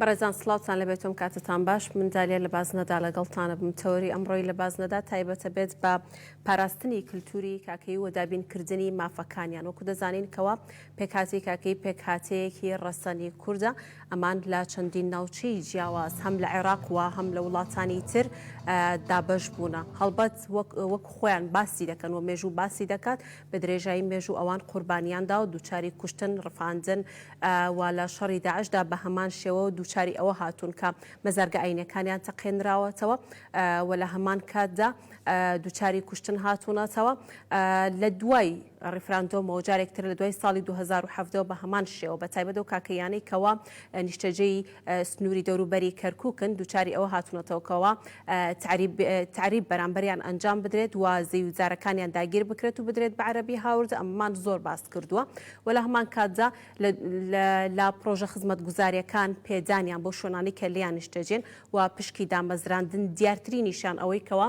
بەڕێزان سڵاوتان لەبێت تۆم کاتتان باش من دالیا لە بازنەدا لەگەڵتانە بم تەوەری ئەمڕۆی لە بازنەدا تایبەتە بێت بە پاراستنی کللتوری کاکەی و دابینکردنی مافەکانیان وەکو دەزانین کەوا پێکهاتی کاکەی پێکهاتەیەکی ڕەسەنی کوردە ئەمان لە چەندین ناوچەی جیاواز هەم لە عێراق و هەم لە وڵاتانی تر دابش بوونە هەڵبەت وەک خۆیان باسی دەکەن و مێژوو باسی دەکات بە درێژایی مێژوو ئەوان قوربانیاندا و دووچاری کوشتن ڕفاندن و لە شەڕی داعشدا بە هەمان شێوە دووچاری ئەوە هاتوون کە مەزارگە ئایینیەکانیان تەقێنراوەتەوە و لە هەمان کاتدا دووچاری کوشتن هاتوونەتەوە لە دوای ڕیفراندۆمەوە جارێکتر لە دوای ساڵی 2017 بە هەمان شێوە بە تایبەت و کاکەیانەی کەوا نیشتەجێی سنوری دەوروبەری کەرکوکن دوچاری ئەوە هاتونەتەوە کەوا تەعریب بەرامبەریان ئەنجام بدرێت و زیوزارەکانیان داگیر بکرێت و بدرێت بە عەرەبی هاوردە ئەمەمان زۆر باس کردوە و لە هەمان کاتدا لە پرۆژە خزمەتگوزاریەکان پێدانیان بۆ شوێنانی کە لێیان نیشتەجێن و پشکی دامەزراندن دیارترینیشیان ئەوەی کەوا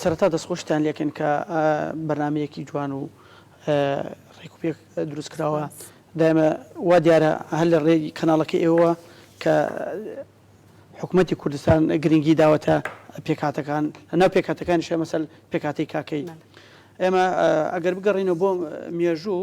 سەرەتا دەستخۆشتان لێکەن کە بەرنمەیەکی جوان و ڕێک و پێک دروست کراوە دایمە وا دیارە هەر لە ڕێ کەناڵەکە ئێوە کە حکوومەتتی کوردستان گرنگی داوەتە پێکاتەکان ناو پێکاتەکان شێ مەسەل پێکاتی کاکەی ئێمە ئەگەر بگەڕینەوە بۆ مێژوو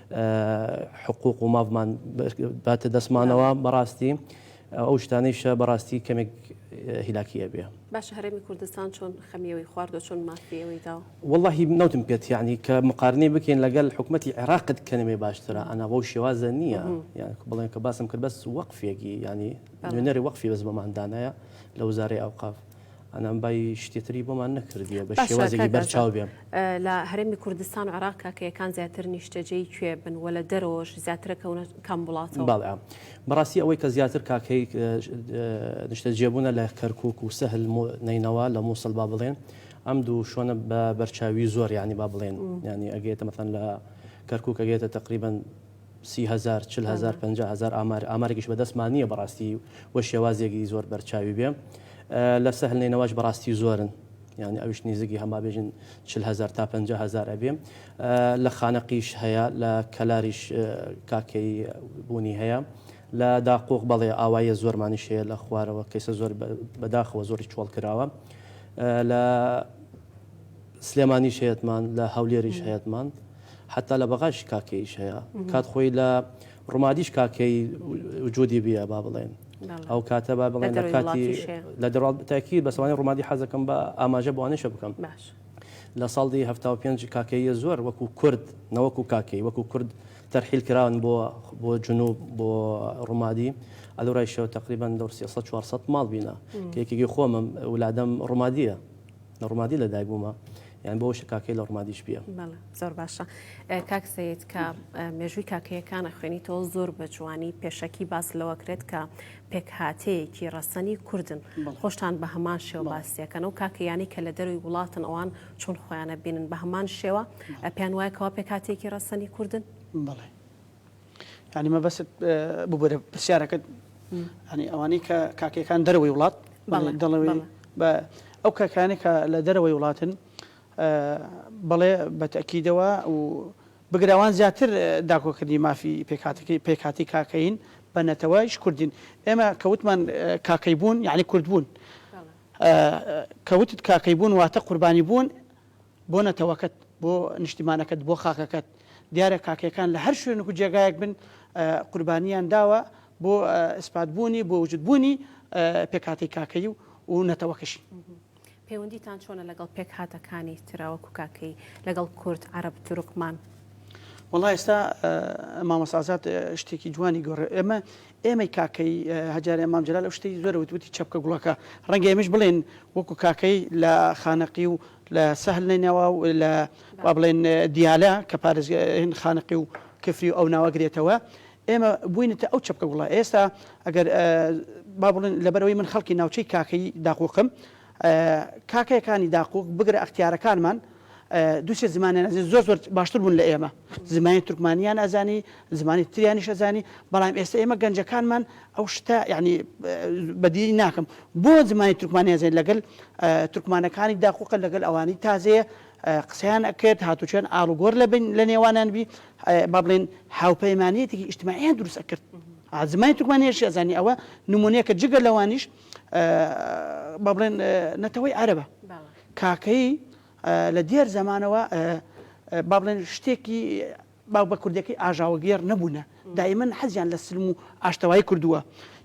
حقوق و مافمان باتە دەستمانەوە بەڕاستی ئەو شتانەیشە بەڕاستی کەمێک هیلاکی ئەبێ. باشە هەرێمی کوردستان چۆن خەمی ئەوەی خوارد و چۆن مافی ئەوەی دا؟ وەڵاهی نەوتم پێت یانی کە مقارنەی بکەین لەگەل حکومەتی عێراقت کەنەێ باشترە ئەنا بەو شێوازە نییە یان بڵێن کە باسم کرد بەس وەقفێکی یانی نوێنەری وەقفی بەس بەمان دانایە لە وزارەی ئەوقاف. ئەنام بای شتێتری بۆمان نەکردیە بە شێوازێکی بەرچاو بێن لە هەرێمی کوردستان و عراق کاکەیەکان زیاتر نیشتەجێی کوێ بن و لە دەرەوەش زیاترە کەونە کام وڵاتەوە باڵام بەڕاستی ئەوەی کە زیاتر کاکەی نیشتەجێبوونە لە کەرکک و سەهل نینەوە لە مووسڵ با بڵێن ئەم دوو شوۆنە بە بەرچاوی زۆر ینی با بڵێن ینی ئەگەێتە مەتەن لە کەرکک ئەگەێتە تقریبان سی هەزار، چل هەزار، پەنجا هەزار ئامار، ئامارێکیش بەدەستمان نییە بەڕاستی و شێوازێکی زۆر بەرچاوی بێ. لە سەهل نەینەواش بەڕاستی زۆرن، یانی ئەویش نیزیکی هەم با بێژین چل هەزار تا پەنجا هەزار ئەبێ. لە خانەقیش هەیە، لە کەلاریش کاکەیی بوونی هەیە. لە داقووق بەڵێ ئاواییە زۆرمانیش هەیە لە خوارەوە کەیسە زۆر بە داخەوە زۆریش چۆڵ کراوە. لە سلێمانیش هەیەتمان، لە هەولێریش هەیەتمان. حەتا لە بەغاش کاکەییش هەیە، کات خۆی لە ڕومادیش کاکەیی وجودی بیە با بڵێن. ئەو کاتە با بڵێن لە کاتی لە دەڕا تاکی بەسوانی ڕومادی حەزەکەم بە ئاماژە بۆانێشە بکەم. لە ساڵدی هەفتا و پێنج کاکەییە زۆر وەکو کورد نەوەکو کاکەی وەکو کورد تەرحیل کراون بۆ بۆ جنوب بۆ ڕومادی ئەلورایشەوە تەقریبەن دەور سێ سەد چوار سەد ماڵ بینە کە یەکێکی خۆمم ولادەم ڕومادییە. لە ڕمادی لە دایک بوومە یان بۆ شە کاکەی لە ڕمادیش بیە زۆر باشە کاک سید کە مێژووی کاکەیەکانە خوێنی تۆ زۆر بە جوانی پێشەکی باس لەوە کرێت کە پێکهاتەیەکی ڕەسەنی کوردن خۆشتان بە هەمان شێوە باسیەکەن و کاکەیانی کە لە دەروی وڵاتن ئەوان چون خۆیانە بینن بە هەمان شێوە پێیان وایە کەوا پێکاتێکی ڕەسەنی کوردن بڵێ یانی مەبەست ببرە پرسیارەکەت ینی ئەوانەی کە کاکەکان دەرەوەی وڵات دەڵەوەی بە ئەو کاکانێک کە لە دەرەوەی وڵاتن بەڵێ بەتەکیدەوە و بگراوان زیاتر داکۆکردنی مافی پێکاتەکەی پێکاتی کاکەین بە نەتەوەش کوردین ئێمە کەوتمان کاکەی بوون یعنی کورد بوون کەوتت کاکەی بوون واتە قوربانی بوون بۆ نەتەوەکەت، بۆ نیشتیمانەکەت، بۆ خاکەکەت، دیارە کاکەیەکان لە هەر شوێنک و جێگایەک بن قوربانیان داوە بۆ ئیسپات بوونی، بۆ وجود بوونی پێکهاتەی کاکەیی و نەتەوەکەشی. پەیوەندیتان چۆنە لەگەڵ پێکهاتەکانی ترا وەکو کاکەیی، لەگەڵ کورد، عەرەب، تورکمان؟ وەڵا ئێستا مامۆستا ئازاد شتێکی جوانی گۆڕێ، ئێمە ئێمەی کاکەیی، هەجارێ مام جەلال ئەو شتەی زۆر ئەوت، وتی چەپکە گوڵەکە. ڕەنگە ئێمەیش بڵێین وەکوو کاکەیی لە خانەقی و لە سەهل نەینەوا و لە با بڵێین دیالە کە پارێزگاین خانەقی و کفری و ئەو ناوە گرێتەوە، ئێمە بووینەتە ئەو چەپکە گوڵە. ئێستا ئەگەر با بڵێین لەبەر ئەوەی من خەڵکی ناوچەی کاکەیی داقووقم، کاکەیەکانی داقووق بگرە ئەختیارەکانمان دوو سێ زمانیان ئەزانی زۆر زۆر باشتر بوون لە ئێمە زمانی تورکمانیان ئەزانی زمانی تریانیش ئەزانی بەڵام ئێستا ئێمە گەنجەکانمان ئەو شتە یعنی بەدیی ناکەم بۆ زمانی تورکمانی ئەزانی لەگەل تورکمانەکانی داقووقە لەگەل ئەوانی تازەیە قسەیان ئەکرد هاتوچۆیان ئاڵوگۆر لە بین لە نێوانیان بی با بڵێن هاوپەیمانیەتێکی ئیجتماعیان دروست ئەکرد زمانی تورکمانیش ئەزانی ئەوە نمونەیەکە جگە لەوانیش با بڵێن نەتەوەی عەرەبە کاکەیی لە دێر زەمانەوە با بڵێن شتێکی باو بە کوردەکەی ئاژاوەگێڕ نەبوونە دایمەن حەزیان لە سلم و ئاشتەوای کردووە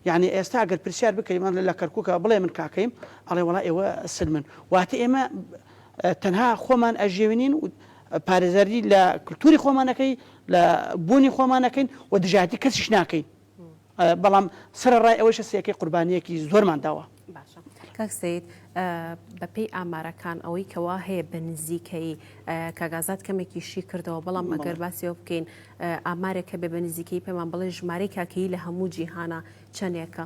یعنی ئێستا گەر پرسیار بکەیمان لە کەرککە بڵێ من کاکەیم ئەڵێ وڵا ئێوە سلمن واتە ئێمە تەنها خۆمان ئەژێوێنین و پارێزەری لە کللتوری خۆمانەکەی لە بوونی خۆمانەکەین و دژایەتی کەسیش ناکەین بەڵام سەرەڕای ئەوەیشە سیەکەی قوربانیەکی زۆرمان داوە. باشە کاک سەید بە پێی ئامارەکان ئەوەی کەوا هەیە بە نزیکەیی کاگازات کەمێکی شی کردەوە بەڵام مەگەر باسیەوە بکەین ئامارێک کە بێ بە نزیکەی پێمان بڵێ ژمارەی کاکەیی لە هەموو جیهانە چەندێکە؟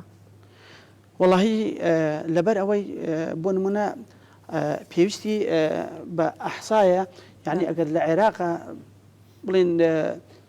وەڵاهی لەبەر ئەوەی بۆ نمونە پێویستی بە ئەحسایە یعنی ئەگەر لە عێراقە بڵێن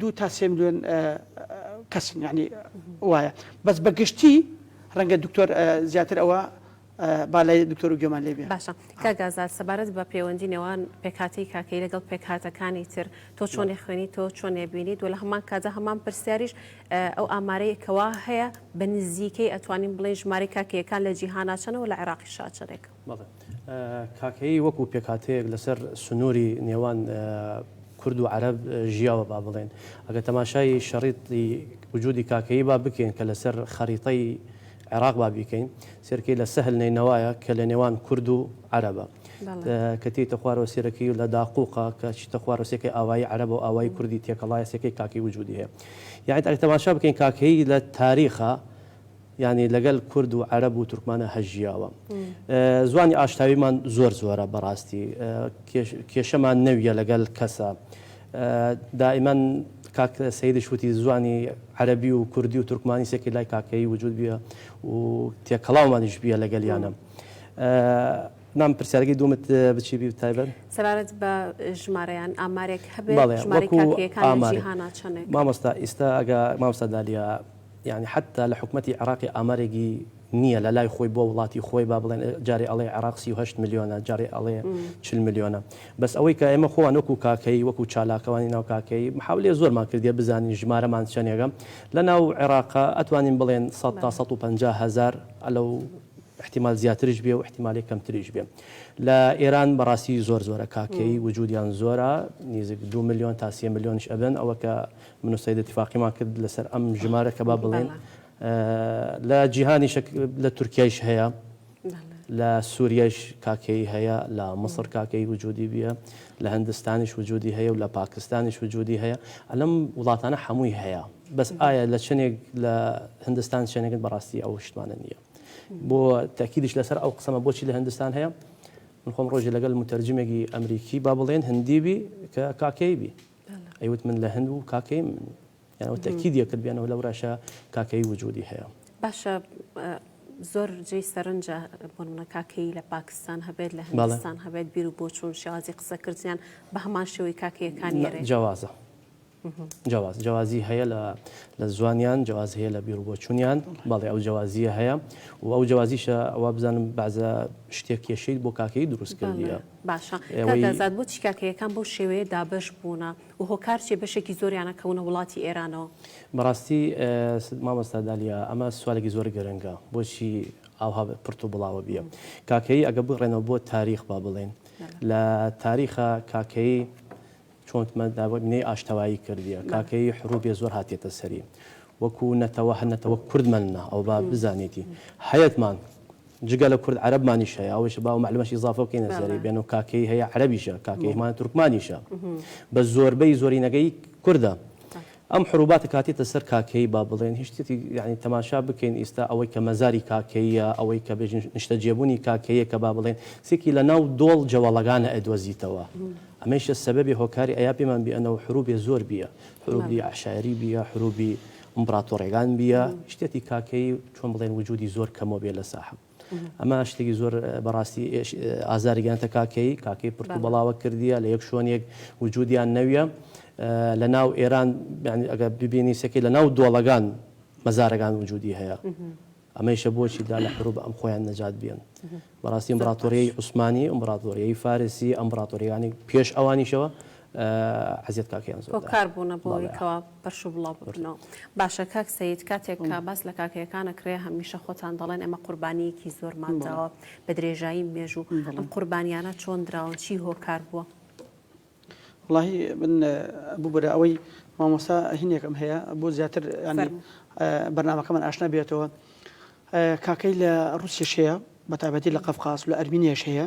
دوو تا سێ ملیۆن کەسن یانی وایە بەس بە گشتی ڕەنگە دکتۆر زیاتر ئەوە با لای دکتۆر و گوێمان لێ بێ. باشە کاک ئازاد سەبارەت بە پێوەندی نێوان پێکهاتەی کاکەیی لەگەڵ پێکهاتەکانی تر تۆ چۆنی خوێنی تۆ چۆن ئەبینیت و لە هەمان کاتدا هەمان پرسیاریش ئەو ئامارەیە کەوا هەیە بە نزیکەی ئەتوانین بڵێین ژمارەی کاکەییەکان لە جیهانا چەنە و لە عێراقیشا چەنێکە؟ بەڵێ کاکەیی وەکو پێکهاتەیەک لەسەر سنووری نێوان کورد و عەرەب ژیاوە با بڵێن ئەگە تەماشای شەڕیتی وجودی کاکەیی با بکەین کە لەسەر خەریتەی عێراق با بیکەین سێرکەی لە سەهل نەینەوایە کە لە نێوان کورد و عەرەبە کە تێیتە خوارەوە سێرەکەی و لە داقوقا کە چیتە خوارەسێکی ئاوایی عەرەبە و ئاوای کوردی تێکەڵایە سێکەی کاکی وجودی هەیە یاعید ئەگە تەماشا بکەین کاکەیی لە تاریخە یانی لەگەل کورد و عەرەب و تورکمانا هەر ژیاوە زوانی ئاشتاویمان زۆر زۆرە بەڕاستی کێشەمان نەویە لەگەل کەسە دائیمەن کاک سیدی شووتی زوانی عەربی و کوردی و تورکمانی سێکی لای کاکەی وجود بیە و تێکەڵاومانیش بیە لەگەلیانە نام پرسیارگەی دومت بچی بی تایبەت سەبارەت بە ژمارەیان ئامارێک هەبێت مامۆستا ئیستا ئەگە مامستا دالیا یانی حەتتا لە حکومەتی عێراقی ئامارێگی نیە لە لای خۆی بۆ وڵاتی خۆی با بڵێن جارێ ئەڵێ عێراق سی و هەشت ملیۆنە جارێ ئەڵێ چل ملیۆنە بەس ئەوەی کە ئێمە خۆمان وەکو کاکەیی وەکو چالاکوانی ناو کاکەیی محاولەی زۆرمان کردیە بزانین ژمارەمان چەنێگە لە ناو عێراقا ئەتوانین بڵێن سەد تا سەد و پەنجا هەزار ئەلەو ئیحتیمال زیاتریش بێ و ئیحتیمالی کەمتریش بێ لە ئێران بەڕاستی زۆر زۆرە کاکەیی وجودیان زۆرە نیزیک دوو ملیۆن تا سێ ملیۆنیش ئەبن ئەوە کە من و سەید ئیتیفاقیمان کرد لەسەر ئەم ژمارە کە با بڵێن لە جیهانیش لە تورکیایش هەیە لە سووریش کاکەی هەیە لە مصر کاکەی وجودی بیە لە هەندستانیش وجودی هەیە و لە پاکستانیش وجودی هەیە ئەلم وڵاتانە هەمووی هەیە بەس ئایا لە چنێک لە هندستان شوێنێکن بەڕاستی ئەو شتمانە نییە بۆ تاکیدیش لەسەر ئەو قسەمە بۆچی لە هندستان هەیە من خۆم ڕۆژی لەگەل متەرجمێکی ئەمریکی با بڵێن هەندیبی کە کاکەیبی ئەیوت من لە هەند و کاکەی من یان ئەو تەکیدی کرد بیانەوە لەو راشە کاکەی وجودی هەیە باشە زۆر جێی سەرنجە بۆ منە کاکەی لە پاکستان هەبێت لە هندستان هەبێت بیر و بۆچوون شازی قسەکردیان بە هەمان شێوەی کاکەیەکانی جیاوازە جواز جوازی هەیە لە لە زوانیان جواز هەیە لە بیر و بۆچوونیان بەڵێ ئەو جوازیە هەیە و ئەو جوازیشە ئەوە بزانم بازە شتێک کێشەیت بۆ کاکەی دروستکردە باشە کاک ئازاد بۆچی کاکەیەکان بەو شێوەیە دابەش بوونە و هۆکار چیە بەشێکی زۆریانە کەونە وڵاتی ئێرانەوە؟ بەڕاستی مامۆستا دالیا ئەمە سوالێکی زۆر گرنگە بۆچی ئاوها پرت و بڵاوە بیە کاکەیی ئەگە بگڕێنەوە بۆ تاریخ با بڵێن لە تاریخا کاکەیی چۆن مینەی ئاشتەوایی کردیە کاکەیی حروبێ زۆر هاتێتە سەری وەکو نەتەوە هەر نەتەوە کورد مەلنا ئەو با بزانێتی هەیەتمان جگە لە کورد عەرەبمانیش هەیە ئەوش با و معلومەش ئیزافە بکەینە سەری بێن و کاکەی هەیە عەرەبیشە کاکەیمان تورکمانیشە بە زۆربەی زۆرینەکەی کوردە ئەم حروباتە کاتێتە سەر کاکەیی با بڵێن هیچ شتێتی یانی تەماشا بکەین ئیستا ئەوەی کە مەزاری کاکەییە ئەوەی کە بێژن نیشتەجێبونی کاکەییە کە با بڵێن سێکی لە ناو دۆڵ جەوەڵەگانە ئەدوەزیتەوە ئەمەیشە سەبەبێ هۆکاری ئەیا پێمان بیەنەوە حروبێ زۆر بیە حروبی عەشایەری بیە حروبی ئمبڕاتۆڕێگان بیە شتێتی کاکەیی چۆن بڵێن وجودی زۆر کەمەوە بێ لە ساحەب. ئەمە شتێکی زۆر بەڕاستی ئازاری گەنتە کاکەی کاکەی پرت و بەڵاوە کردیە لە یەک شوێنێک وجودیان نەویە لە ناو ئێران ئەگە ببینی سەکەی لە ناو دۆڵەگان مەزارەکان وجودی هەیە ئەمەیشە بۆچی دا لە حروب ئەم خۆیان نەجات بیان بەڕاستی ئەمبراتۆریی عوسمانی ئەمبراتۆریی فارسی ئەمبراتۆریانی پێش ئەوانیشەوە عەزێت کاکەیان زۆر دەکەن. هۆکار بوونە بۆ ئەوەی کەوا پەرش و بڵاو ببنەوە. باشە کاک سەید کاتێک کە باس لە کاکەیەکان ئەکرێ هەمیشە خۆتان دەڵێن ئێمە قوربانییەکی زۆرمان داوە بە درێژایی مێژوو، ئەم قوربانییانە چۆن دراون؟ چی هۆکار بووە؟ وەڵاهی من بوو برا ئەوەی مامۆستا هینێکم هەیە بۆ زیاتر یانی بەرنامەکەمان ئاشنا بێتەوە کاکەی لە ڕوسیش هەیە بە تابەتی لە قەفقاس لە ئەرمینیاش هەیە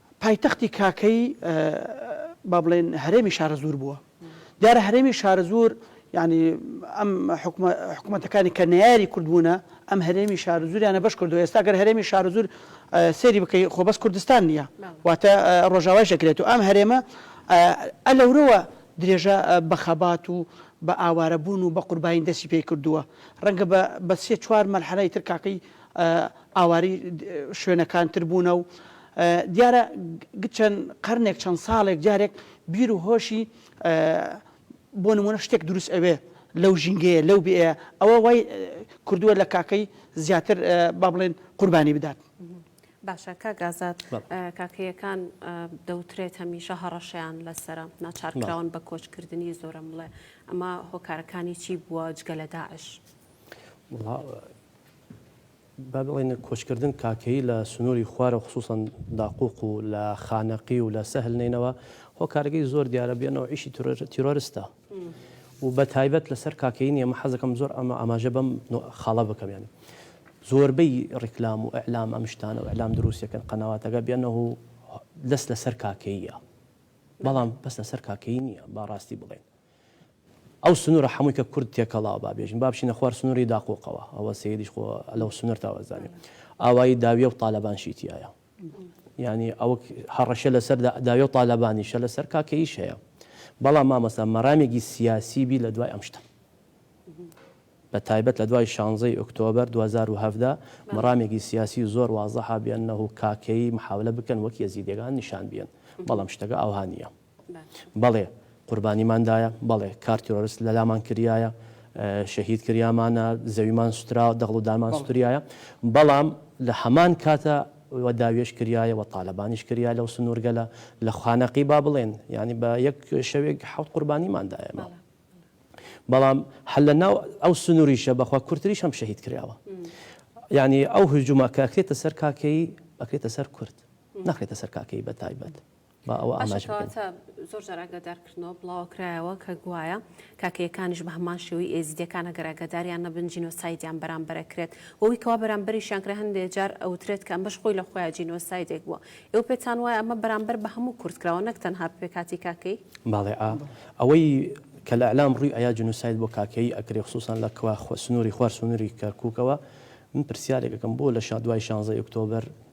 پایتەختی کاکەیی با بڵێین هەرێمی شارەزوور بووە. دیارە هەرێمی شارەزوور یانی ئەم حکومەتەکانی کە نەیاری کورد بوونە، ئەم هەرێمی شارەزووریانە بەش کردووە. ئێستا گەر هەرێمی شارەزوور سەیری بکەی خۆ بەس کوردستان نییە، واتە ڕۆژاوایش دەکرێت و ئەم هەرێمە ئە لەورەوە درێژە بە خەبات و بە ئاوارە بوون و بە قوربانی دەستی پێ کردووە. ڕەنگە بە سێ چوار مەرحەلەی تر کاکەیی ئاوارەی شوێنەکان تر بوونە و دیارە گ چەند قەرنێک چەند ساڵێک جارێک بیر و هۆشی بۆ نموونە شتێک دروست ئەوێ لەو ژینگەیە لەو بیئەیە ئەوە وای کردووە لە کاکەی زیاتر با بڵێن قوربانی بدات. باشە کاک ئازاد کاکەیەکان دەوترێت هەمیشە هەڕەشەیان لەسەرە ناچار کراون بە کۆچ کردنی زۆرم بڵێ ئەمە هۆکارەکانی چی بووە جگە لە داعش؟ وڵا با بڵێین کۆچکردن کاکەیی لە سنووری خوارەوە خسووسەن داقووق و لە خانەقی و لە سەهل نەینەوا هۆکارەکەی زۆر دیارە بێ نەوعیشی تیرۆرستە و بە تایبەت لەسەر کاکەیی نیە مە حەزەکەم زۆر ئەمە ئاماژە بەم خاڵە بکەم یانی زۆربەی ڕیکلام و ئەعلام ئەم شتانە و ئەعلام دروستەکەن قەنەواتەکە بێنە و دەست لەسەر کاکەیە بەڵام بەس لەسەر کاکەیی نییە با ڕاستی بڵێن ئەو سنورە حەمووی کە کورد تێکەڵاوە با بێژین با بچینە خوار سنوری داقووقەوە ئەوە سەیدیش خۆ لەو سنور تاوە زانێ ئاوایی داویە و تالەبان شی تیایە یعنی ئەوە هەڕەشە لەسەر داویە و تالەبانیشە لەسەر کاکەیش هەیە بەڵام مامەستا مەرامێکی سیاسی بی لە دوای ئەم شتە بە تایبەت لە دوای شانزەی ئۆکتۆبر 2017 مەرامێکی سیاسی زۆر وازەها بێنەوە کاکەی محاولە بکەن وەک یەزیدەکان نیشان بێن بەڵام شتەکە ئاوهانە بەڵێ قوربانیمان دایە، بەڵێ کار تیرۆرست لەلامان کریایە، شەهید کریامانە، زەویمان سوترا، دەغڵ و دارمان سوتریایە، بەڵام لە هەمان کاتە وە داوێش کریایە وە تالەبانیش کریا لەو سنورگەلە لە خانەقی با بڵێن یانی بە یەک شەوێک حەوت قوربانیمان دایە بە بەڵام هەر لە ناو ئەو سنوریشە بەخوا کورتریش هەم شەهید کراوە یانی ئەو هجومە کە ئەکرێتە سەر کاکەیی ئەکرێتە سەر کورد نەخرێتە سەر کاکەیی بە تایبەت. با ئەوە ئاماژە بکەین. باشە کەواتە زۆر جار ئاگادار کردنەوە بڵاوە کرایەوە کە گوایە کاکەیەکانیش بە هەمان شێوەی ئێزیدیەکان ئەگەر ئاگاداریان نەبن جینۆسایدیان بەرامبەر ئەکرێت و ئەوی کەوا بەرامبەریشیان کرا هەندێ جار ئەوترێت کە ئەمەش خۆی لە خۆیا جینۆسایدێک بووە ئێوە پێتان وایە ئەمە بەرامبەر بە هەموو کورد کراوە نەک تەنها بە پێکهاتی کاکەیی؟ باڵێ ئا ئەوەی کە لە ئیعلام ڕووی ئەیا جینۆساید بۆ کاکەیی ئەکرێ خسوسان لە کوا سنووری خوار سنووری کەرکوکەوە من پرسیارێک ئەکەم بۆ لە شا دوای شانزەی ئۆکتۆبەر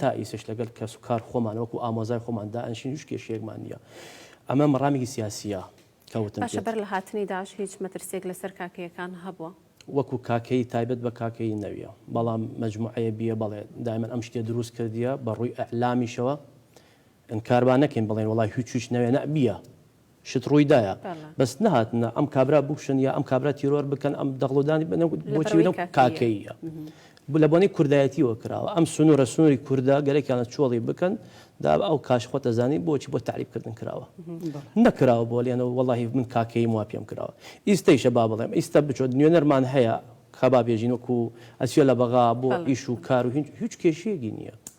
تا ئیسش لەگەل کەس و کار خۆمان وەکو ئامۆزای خۆمان دائەنشین هیچ کێشەیەکمان نییە ئەمە مەڕامێکی سیاسیە کە وتم باشە پێت. بەر لە هاتنی داعش هیچ مەترسیەک لەسەر کاکەیەکان هەبووە؟ وەکو کاکەیی تایبەت بە کاکەیی نەویە بەڵام مەجموعەیە بیە بەڵێ دایمەن ئەم شتیە دروست کردیە بە ڕووی ئیعلامیشەوە ئینکار با نەکەین بڵێین وەڵای هیچ و هیچ نەوێ نا بیە شت ڕووی دایە بەس نەهاتنە ئەم کابرا بکوشن یا ئەم کابرا تیرۆر بکەن ئەم دەغڵودانی بنە بۆچی لەم کاکەیە لە بۆنەی کوردایەتیەوە کراوە ئەم سنوورە سنووری کووردا گەلێکیانە چۆڵی بکەن دا ئەو کاش خۆ دەزانین بۆچی بۆ تعریبکردن کراوە نەکراوە بۆ لێنەوە وەڵی من کاکەی وا پێم کراوە ئیستەیشە با بڵێم ئیستا بچۆ نوێنەرمان هەیە خەبا بێژین وەکو ئەسیە لە بەغا بۆ ئیش و کار و هیچ کێشیەکی نییە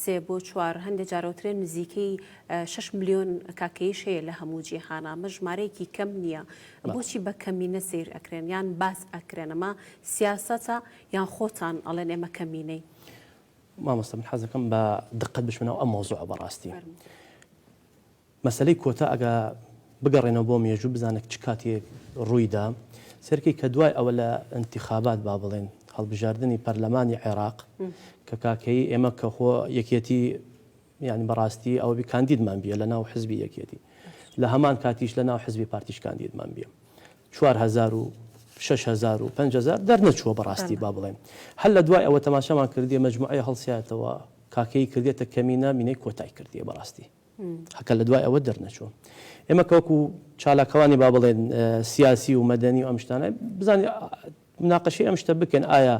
سێ بۆ چوار، هەندێ جار ئەوترێ نزیکەی شەش ملیۆن کاکەییش هەیە لە هەموو جیهان، ئەمە ژمارەیەکی کەم نییە، بۆچی بە کەمینە سەیر ئەکرێن یان باس ئەکرێن، ئەمە سیاسەتە یان خۆتان ئەڵێن ئێمە کەمینەین؟ مامۆستا من حەزەکەم بە دقەت بچمە ناو ئەم مەوزوعە بەڕاستی. مەسەلەی کۆتا ئەگا بگەڕێنەوە بۆ مێژوو بزانە چ کاتێک ڕووی دا، سەیرکەی کە دوای ئەوە لە ئینتیخابات با بڵێن هەڵبژاردنی پەرلەمانی عێراق کە کاکەیی ئێمە کە خۆ یەکێتی یانی بە ڕاستی ئەوە بی کاندیدمان بیە لە ناو حزبی یەکێتی لە هەمان کاتیش لە ناو حزبی پارتیش کاندیدمان بیە چوار هەزار و شەش هەزار و پەنج هەزار دەرنەچووە بە ڕاستی با بڵێن هەر لە دوای ئەوە تەماشامان کردیە مەجموعەیە هەڵسایەتەوە کاکەیی کردێتە کەمینە مینەی کۆتای کردیە بە ڕاستی هەکە لە دوای ئەوە دەرنەچوو ئێمە کە وەکو چالاکوانی با بڵێن سیاسی و مەدەنی و ئەم شتانە بزانین مناقەشی ئەم شتە بکەن ئایا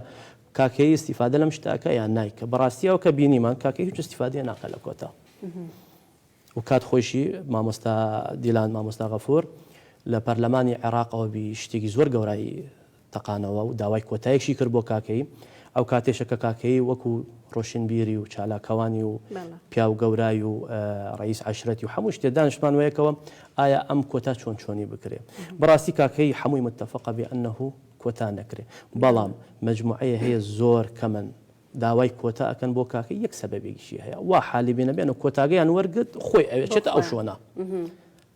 کاکەی استیفادە لەم شتاکە یان نایکە بەڕاستیەوە کە بینیمان کاکە هیچ استیفادە ناکە لە کۆتا و کات خۆشی مامۆستا دیلان مامۆستا غەفور لە پەرلەمانی عێراقەوە بی شتێکی زۆر گەورایی تەقانەوە و داوای کۆتایشی کرد بۆ کاکەیی، ئەو کاتێشە کە کاکەیی وەکو ڕۆشنبیری و چالاکوانی و پیاو گەورای و ڕەییس عەشرەتی و هەموو شتێ دانشتمانوە یەکەوە ئایا ئەم کۆتا چۆن چۆنی بکرێ؟ بەڕاستی کاکەیی هەمووی متفقە بێ ئەنەهو کۆتا نەکرێ، بەڵام مەجموعەیە هەیە زۆر کەمن داوای کۆتا ئەکەن بۆ کاکەیی یەک سەبەبێکیشی هەیە وا حالی بێ نەبێ ئەنە کۆتاگەیان وەرگرت خۆی ئەوێ چێتە ئەو شوەنە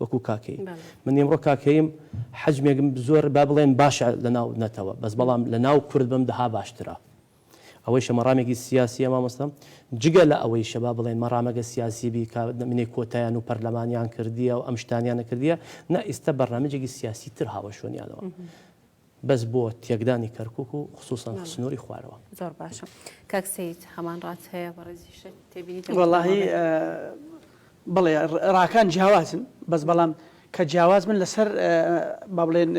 وەکو کاکەیی من ئیمڕۆ کاکەییم حەجمێکم زۆر با بڵێن باشە لەناو نەتەوە بەس بەڵام لەناو کورد بم دەها باشترە ئەوەیشە مەڕامێکی سیاسیە مامۆستا جگە لە ئەوەی شەبا بڵێن مەڕامەگە سیاسی بی کە منێ کۆتایان و پەرلەمانیان کردیە و ئەم شتانیان نەکردیە نە ئیستا بەرنامەجێکی سیاسی تر هاوەشۆنیانەوە بەس بۆ تێکدانی کەرکوک و خسوسەن سنوری خوارەوە. زۆر باشە کاک سەید هەمان ڕات هەیە بەڕێزی شێت تێبینی وەڵاهی بڵێ ڕاکان جیاوازن بەس بەڵام کە جیاواز بن لەسەر با بڵێن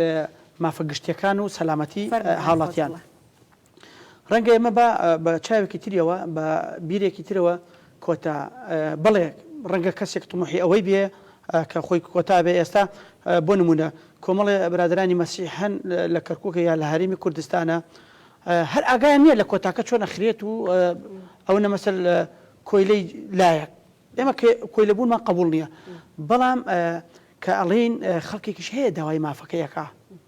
مافە گشتیەکان و سەلامەتی هاوڵاتیان. ڕەنگە ئێمە با بە چاوێکی تریەوە، بە بیرێکی ترەوە کۆتا بەڵێ ڕەنگە کەسێک طموحی ئەوەی بێ کە خۆی کۆتا بێ ئێستا بۆ نموونە کۆمەڵێ برادەرانی مەسیح هەن لە کەرکووکە یا لە هەرێمی کوردستانە هەر ئاگایان نییە لە کۆتاکە چۆن ئەخرێت و ئەونە مەسەل کۆیلەی لایەک ئێمە کۆیلەبوونمان قبول نییە بەڵام کە ئەڵین خەڵکێکیش هەیە داوای مافەکەیەکە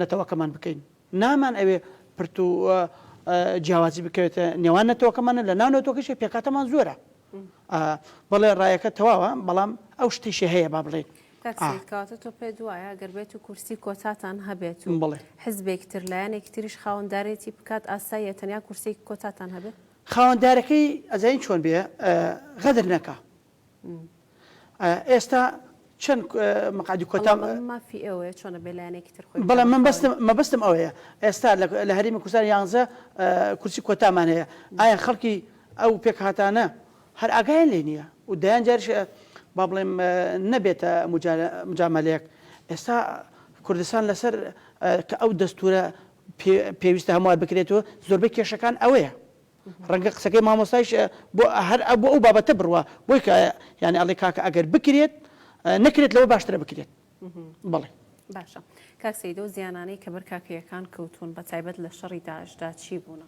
نەتەوەکەمان بکەین نامان ئەوێ پرت و جیاوازی بکەوێتە نێوان نەتەوەکەمانە لە ناو نەوتۆکەشی پێکاتەمان زۆرە بەڵێ ڕایەکە تەواوە بەڵام ئەو شتیشی هەیە با بڵێن کاتە تۆ پێ دوایە گەر بێت و کورسی کۆتاتان هەبێت و بڵێ حزبێک تر لایەنێک تریش خاوەندارێتی بکات ئاسایە تەنیا کورسێک کۆتاتان هەبێت خاوەندارەکەی ئەزین چۆن بێ غەدر نەکە ئێستا چەند مقادی کۆتا مافی ئەوەیە چۆنە بێ لایەنێکی تر خۆی بەڵام من بەستم مەبەستم ئەوەیە ئێستا لە هەرمی کوردستان یانزە کورسی کۆتامان هەیە ئایا خەڵکی ئەو پێکهاتانە هەر ئاگایان لێ نییە و دەیان جارش با بڵێم نەبێتە مجاملەیەک ئێستا کوردستان لەسەر کە ئەو دەستورە پێویستە هەمووار بکرێتەوە زۆربەی کێشەکان ئەوەیە ڕەنگە قسەکەی مامۆستایش بۆ هەر بۆ ئەو بابەتە بڕوا بۆی کە یانی ئەڵێ کاکە ئەگەر بکرێت نەکرێت لەوە باشترە بکرێت بەڵێ باشە کاک سیدۆ زیانانەی کە بەر کاکەیەکان کەوتون بە تایبەت لە شەڕی داعشدا چی بوونە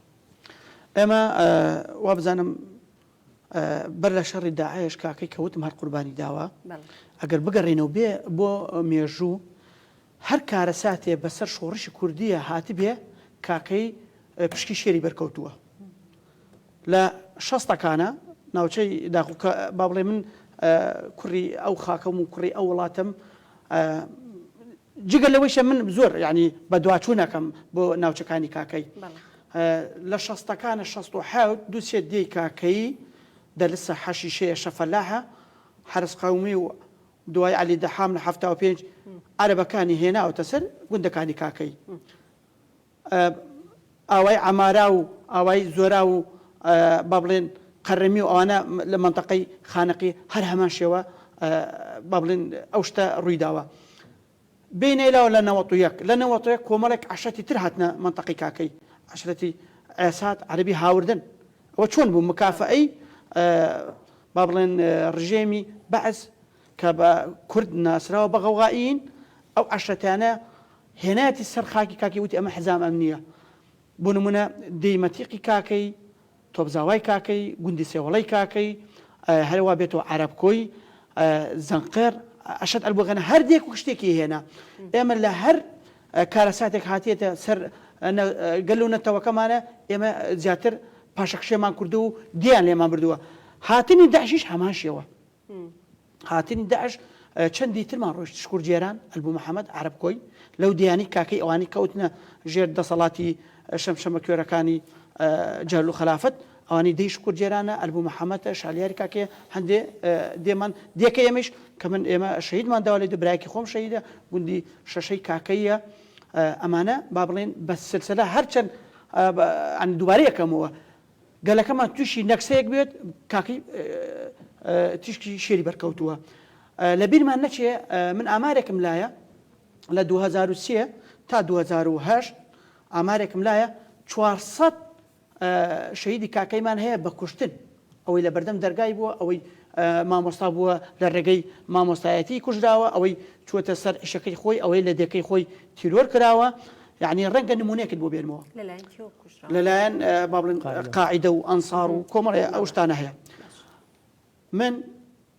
ئێمە وابزانم بەر لە شەڕی داعش کاکەی کەوتم هەر قوربانی داوە ئەگەر بگەڕێنەوە بێ بۆ مێژوو هەر کارەساتێ بەسەر شۆڕشی کوردیە هاتبێ کاکەیی پشکی شێری بەر کەوتووە لە شەستەکانا ناوچەی داخۆ کە با بڵێ من کوڕی ئەو خاکەم و کوڕی ئەو وڵاتم جگە لەوەیشە من زۆر ینی بەدواچوونەکەم بۆ ناوچەکانی کاکەی لە شەستەکانە شەست و حوت دووسێ دێی کاکەی دەلسە حەشیشەیە شەفەلاحە حرس قومی و دوای عەلی دەحام لە حەفتا و پێنج عەرەبەکانی هێناوەتە سەر گوندەکانی کاکەیی. ئاوای عەمارا و ئاوای زۆرا و با بڵێن قەرەمی و ئەوانە لە مەنتەقەی خانەقی هەر هەمان شێوە با بڵێن ئەو شتە ڕووی داوە. بینای لاو لە نەوەت و یەک لە نەوەت و یەک کۆمەڵێک عەشرەتی تر هاتنە مەنتەقەی کاکەی عەشرەتی عێسات عەرەبی هاوردن ئەوە چۆن بوو مکافەئەی با بڵێن ڕژێمی بەعس کە بە کورد ناسراوە بە غەوغائیین ئەو عەشرەتانە هێنایەتی سەر خاکی کاکی وتی ئەمە حزام ئەمنیە بۆ نمونە دێی مەتیقی کاکەی تۆپزاوای کاکەی، گوندی سێوەڵەی کاکەی، هەرەوا بێتەوە عەرەبکۆی، زەنقێڕ، ئەشەت ئەلبوغەنا، هەر دێک و شتێکی هێنا. ئێمە لە هەر کارەساتێک هاتیەتە سەر گەل و نەتەوەکەمانە، ئێمە زیاتر پاشەکشێمان کردووە و دێیان لێمان بردووە. هاتنی داعشیش هەمان شێوە. هاتنی داعش چەندی ترمان ڕۆشت شکور جێران ئەلبوو محەمەد عرب کۆی لەو دیانی کاکەی ئەوانی کەوتنە ژێر دەسەڵاتی شەمشەمە کوێرەکانی جەل و خەلافەت ئەوانی دەی شکور جێرانە ئەلبوو محەمەتە شالیاری کاکێ هەندێ دێمان دێکە ئێمەش کە من ئێمە شەیدمان داوا لێ دەبراکی خۆم شەیدە گوندی شەشەی کاکەیە ئەمانە با بڵێن بە سلسلە هەرچەند دووبارەیەکەمەوە گەلەکەمان توشی نەکسەیەک بێت کاکەی تیشکی شێری بەرکەوتووە لە بیرمان نەچێ من ئامارێکم لایە لە 2023 تا 2010 ئامارێکم لایە 400 شەیدی کاکەیمان هەیە بە کوشتن ئەوەی لە بەردەم دەرگای بووە ئەوەی مامۆستا بووە لە ڕێگەی مامۆستایەتی کوژراوە ئەوەی چوەتە سەر عشەکەی خۆی ئەوەی لە دەکەی خۆی تیرۆر کراوە یعنی ڕەنگە نمونەیەکت بۆ بێنمەوە لەلایەن کێوە کوژراوە لەلایەن اه، با بڵێن قاعدە. قاعدە و ئەنسار و کۆمەڵێ ئەو شتانە هەیە باش من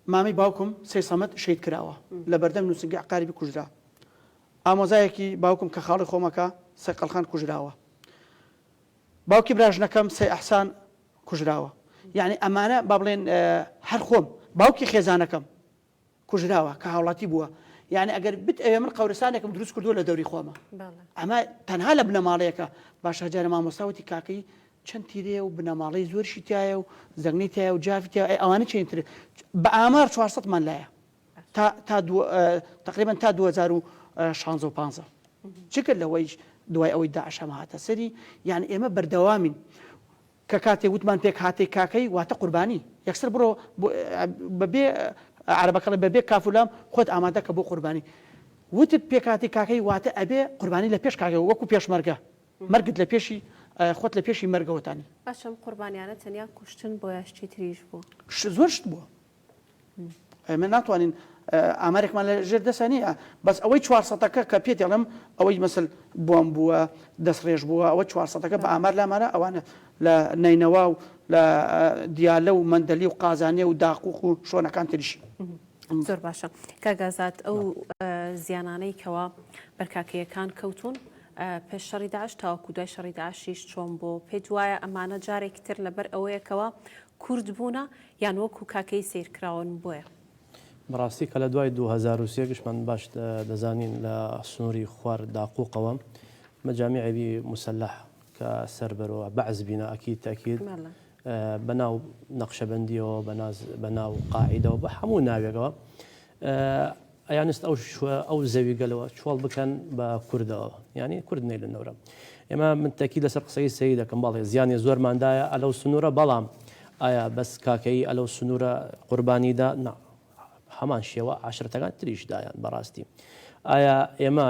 مامی باوکم سەی سەمەد شەید کراوە لە بەردەم نووسنگە عقاربی کوژرا ئامۆزایەکی باوکم کە خاڵی خۆمەکە سەی قەلخان کوژراوە باوکی براژنەکەم سەی ئەحسان کوژراوە یعنی ئەمانە با بڵێن اه، هەر خۆم باوکی خێزانەکەم کوژراوە کە هاوڵاتی بووە یعنی ئەگەر بت ئەوێ من قورستانێکم دروست کردووە لە دەوری خۆمە ئەمە تەنها لە بنەماڵەیەەکە باش هەجارە مامۆستاوتی کاکەی چەند تیرێ و بنەماڵی زۆرشی تایە و زەنگی تایە و جاافیتیا ئەوانە چینتر بە ئامار 400 من لایە تا تا تقریبان تا 2016 چ کرد لەوەیش دوای ئەوەی داعشەمە هاتە سەری یان ئێمە بەردەوامین کە کاتێک وتمان پێکهاتەی کاکەی واتە قوربانی یەکسەر بڕۆ بە بێ عەرەبەکەڵێ بە بێ کاف و لام خۆت ئامادە کە بۆ قوربانی وتت پێکهاتەی کاکەی واتە ئەبێ قوربانی لە پێش کاکەی وەکو پێشمەرگە مەرگت لە پێشی خۆت لە پێشی مەرگەوەتانی. باشە ئەم قوربانیانە تەنیا کوشتن بۆ یا شتی تریش بوو؟ زۆر شت بووە ئێمە ناتوانین ئامارێکمان لە ژێر دەسە نییە بەس ئەوەی چوار سەدەکە کە پێ دەڵم ئەوەی مەسل بۆم بووە دەستڕێژ بووە ئەوە چوار سەدەکە بە ئامار لامانە ئەوانە لە نینەوا و لە دیالە و مندەلی و قازانێ و داقوق و شۆنەکان تریش. زۆر باشە کاگازات ئەو زیانانەی کەوا بەرکاکەیەکان کەوتون پێش شەڕی داعش تاوەکو دوای شەڕی داعشیش چۆن بۆ پێت وایە ئەمانە جارێکی تر لەبەر ئەوەیەکەوە کورد بوونە یان وەکو کاکەیی سەیر کراون بۆیە. بەڕاستی کە لە دوای دوو هەزار و سێ گشمان باش دەزانین لە سنوری خوار داقوقەوە مجامع بی مسلح کە سەر بەرو بەعس بینا اکید تاکید بە ناو نقشبندیەوە بە ناز بە ناو قاعیدەوە بە هەموو ناوێکەوە ئەیانست ئەو ئەو زەوی گەلەوە چۆڵ بکەن بە کوردەوە یعنی کورد نەیلە نەورە ئێمە من تەکی لەسەر قسەی سەی دەکەم بەڵێ زیانی زۆرماندایە ئەلەو سنوورە بەڵام ئایا بەس کاکەیی ئەلەو سنوورە قوربانیدا نا هەمان شێوە عشرەتەکان تریشدایان بەڕاستی ئایا ئێمە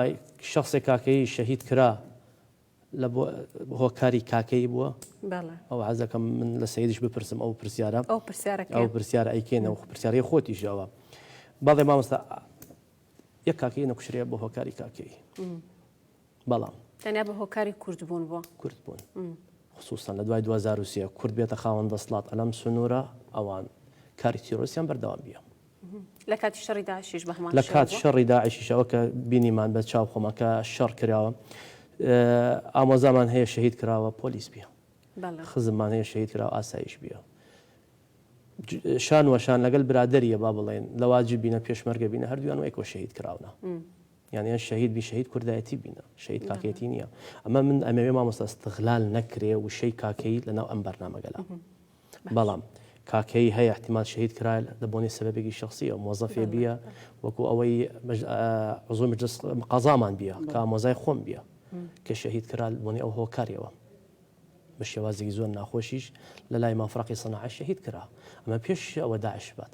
شخصێک کاکەیی شەهید کرا لە بۆ هۆکاری کاکەیی بووە ئەو عزەکەم من لە سیدیش بپرسم ئەو پرسیارە ئەو پرسیارە ئەو پرسیارە ئەیکێنە و پرسیاری خۆتیشەوە بەڵێ مامۆستا یەک کاکەی نەکوشرێ بۆ هۆکاری کاکەیی بەڵام تەنیا بە هۆکاری کوردبوون بۆ کوردبوون خصوصان لە دوای 2023 کورد بێتە خاوەن دەسڵات ئەلەم سنوورە ئەوان کاری تیرۆسیان بەردەوام بیە لە کاتی شەڕی داعشیش بە هەمان لە شێوە کات بووە؟ شەڕی داعشیش ئەوە کە بینیمان بە چاو خۆمان کە شەڕ کراوە ئه ئامۆزامان هەیە شەهید کراوە پۆلیس بیە بەڵێ خزممان هەیە شەهید کراوە ئاسایش بیە ج شان وە شان لەگەل برادەریە با بڵێین لە واجب بینە پێشمەرگە بینە هەردوویان وەک وە شەهید کراونە یان یان شەهید بی شەهید کوردایەتی بینە شەهید بەڵێ کاکەیەتی نیە ئەمە من ئەمەوێ مامۆستا استغلال نەکرێ وشەی کاکەیی لە ناو ئەم بەرنامەگەلا. بەڵام کاکەیی هەیە احتمال شەهید کرایە لە بۆنەی سەبەبێکی شەخسیەوە مۆزەفێ بیە وەکو ئەوەی عزوی مجلس قەزامان بیە کا مۆزای خۆم بیە کە شەهید کرا بۆنی ئەو هۆکارەوە بە شێوازێکی زۆر ناخۆشیش لە لای مافراقی سەناعە شەهید کرا ئەمە پێش ئەوە داعش بات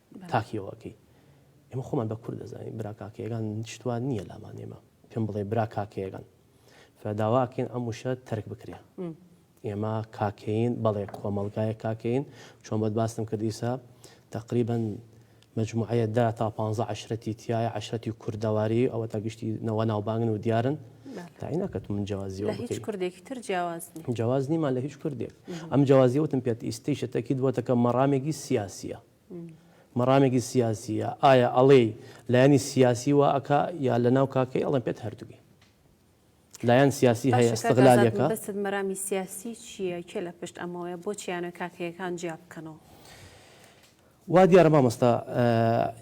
کاک هیوا کەی ئێمە خۆمان بە کورد دەزانین برا کاکەیەکان شت وا نییە لامان ئێمە پێم بڵێ برا کاکەیەکان فە داوا ئەکەین ئەم وشە تەرک بکرێ ئێمە کاکەین بەڵێ کۆمەڵگایە کاکەین چۆن بەت باستم کرد ئیسا تقریبن مجموعەیە دا تا پ عشرەتی تایە عشرەتی کوردەواری ئەوە تا گشتی نەوە ناوبانگن و دیارن تایناکەت من جیازی کوردێکی تر جیاواز جیاواز نیمان لە هیچ کوردێک ئەم جیازیوتم پێت ئیستی شتەکیت بۆتەکە مەڕامێکی سیاسیە مەڕامێکی سیاسیە ئایا ئەڵێی لایەنی سیاسی وا ئەکا یا لەناو کاکەی ئەڵێن پێت هەردووی لایەن سیاسی هەیە باشە کاک ئازاد ئەستغلالیەکە مەبەستت مەرامی سیاسی چیە کێ لە پشت ئەمەوەیە بۆچی ئەیانەوێت کاکەیەکان جیا بکەنەوە. وا دیارە مامۆستا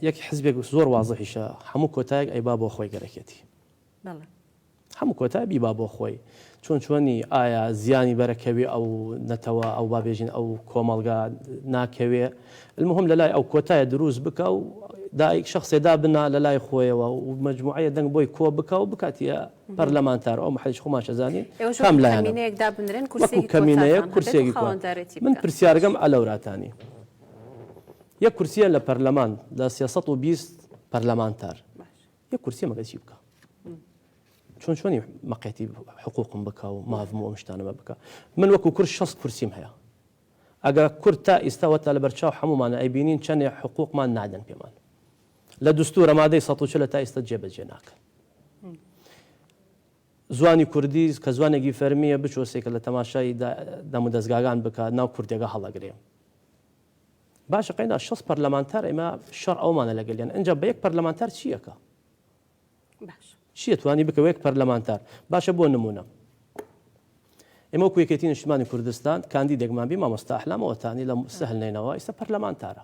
یەک حزبێک زۆر وازحیشە هەموو کۆتایەک ئەیبا بۆ خۆی گەرەکێتی. بەڵێ. هەموو کۆتا بیبا بۆ خۆی چۆن چۆنی ئایا زیانی بەرە کەوێ ئەو نەتەوە ئەو با بێژین ئەو کۆمەڵگا ناکەوێ المهم لە لای ئەو کۆتایە درووست بکە و دایک شەخسێ دا بنا لە لای خۆیەوە و مەجموعەیە دەنگ بۆی کۆ بکە و بکاتیە پەرلەمانتار ئەو محەیش خۆمان شەزانین کام لایەنە وەکو کەمینەیە کورسێکی کۆن من پرسیارگەم ئەلەوراتانی یەک کورسیە لە پەرلەمان لە سێ سەد و بیست پەرلەمانتار یەک کورسی مەگەچی بکە چۆن چۆنی مەقێتی حقوقم بکە و ماڤم و ئەم شتانەمە بکە من وەکو کورد شەست کورسیم هەیە ئەگە کورد تا ئیستاوە تا لە بەرچاو هەمومانە ئەیبینین چەندێ حقوقمان نادەن پێمان لە دستورە مادەی سە لە تا ئیستا جێبەجێ ناکەن زوانی کوردی کە زوانێکی فەرمیە بچۆسێکە لە تەماشای دەمو دەستگاگان بکات ناو کوردێگە هەڵەگرێ باشە قەینا شەست پەرلەمانتار ئێمە شەڕ ئەومانە لەگەلیان ئەجا بە یەک پەرلەمانتار چییەکە چیە توانی بکە یەک پەرلەمانتار باشە بۆ نمونە ئێمە وەکو یەکێتی نیشتمانی کوردستان کاندیدێکمان بی مامۆستا ئەحلام ئەوەتانی لە سەهل نینەوە ئیستا پەرلەمانتارە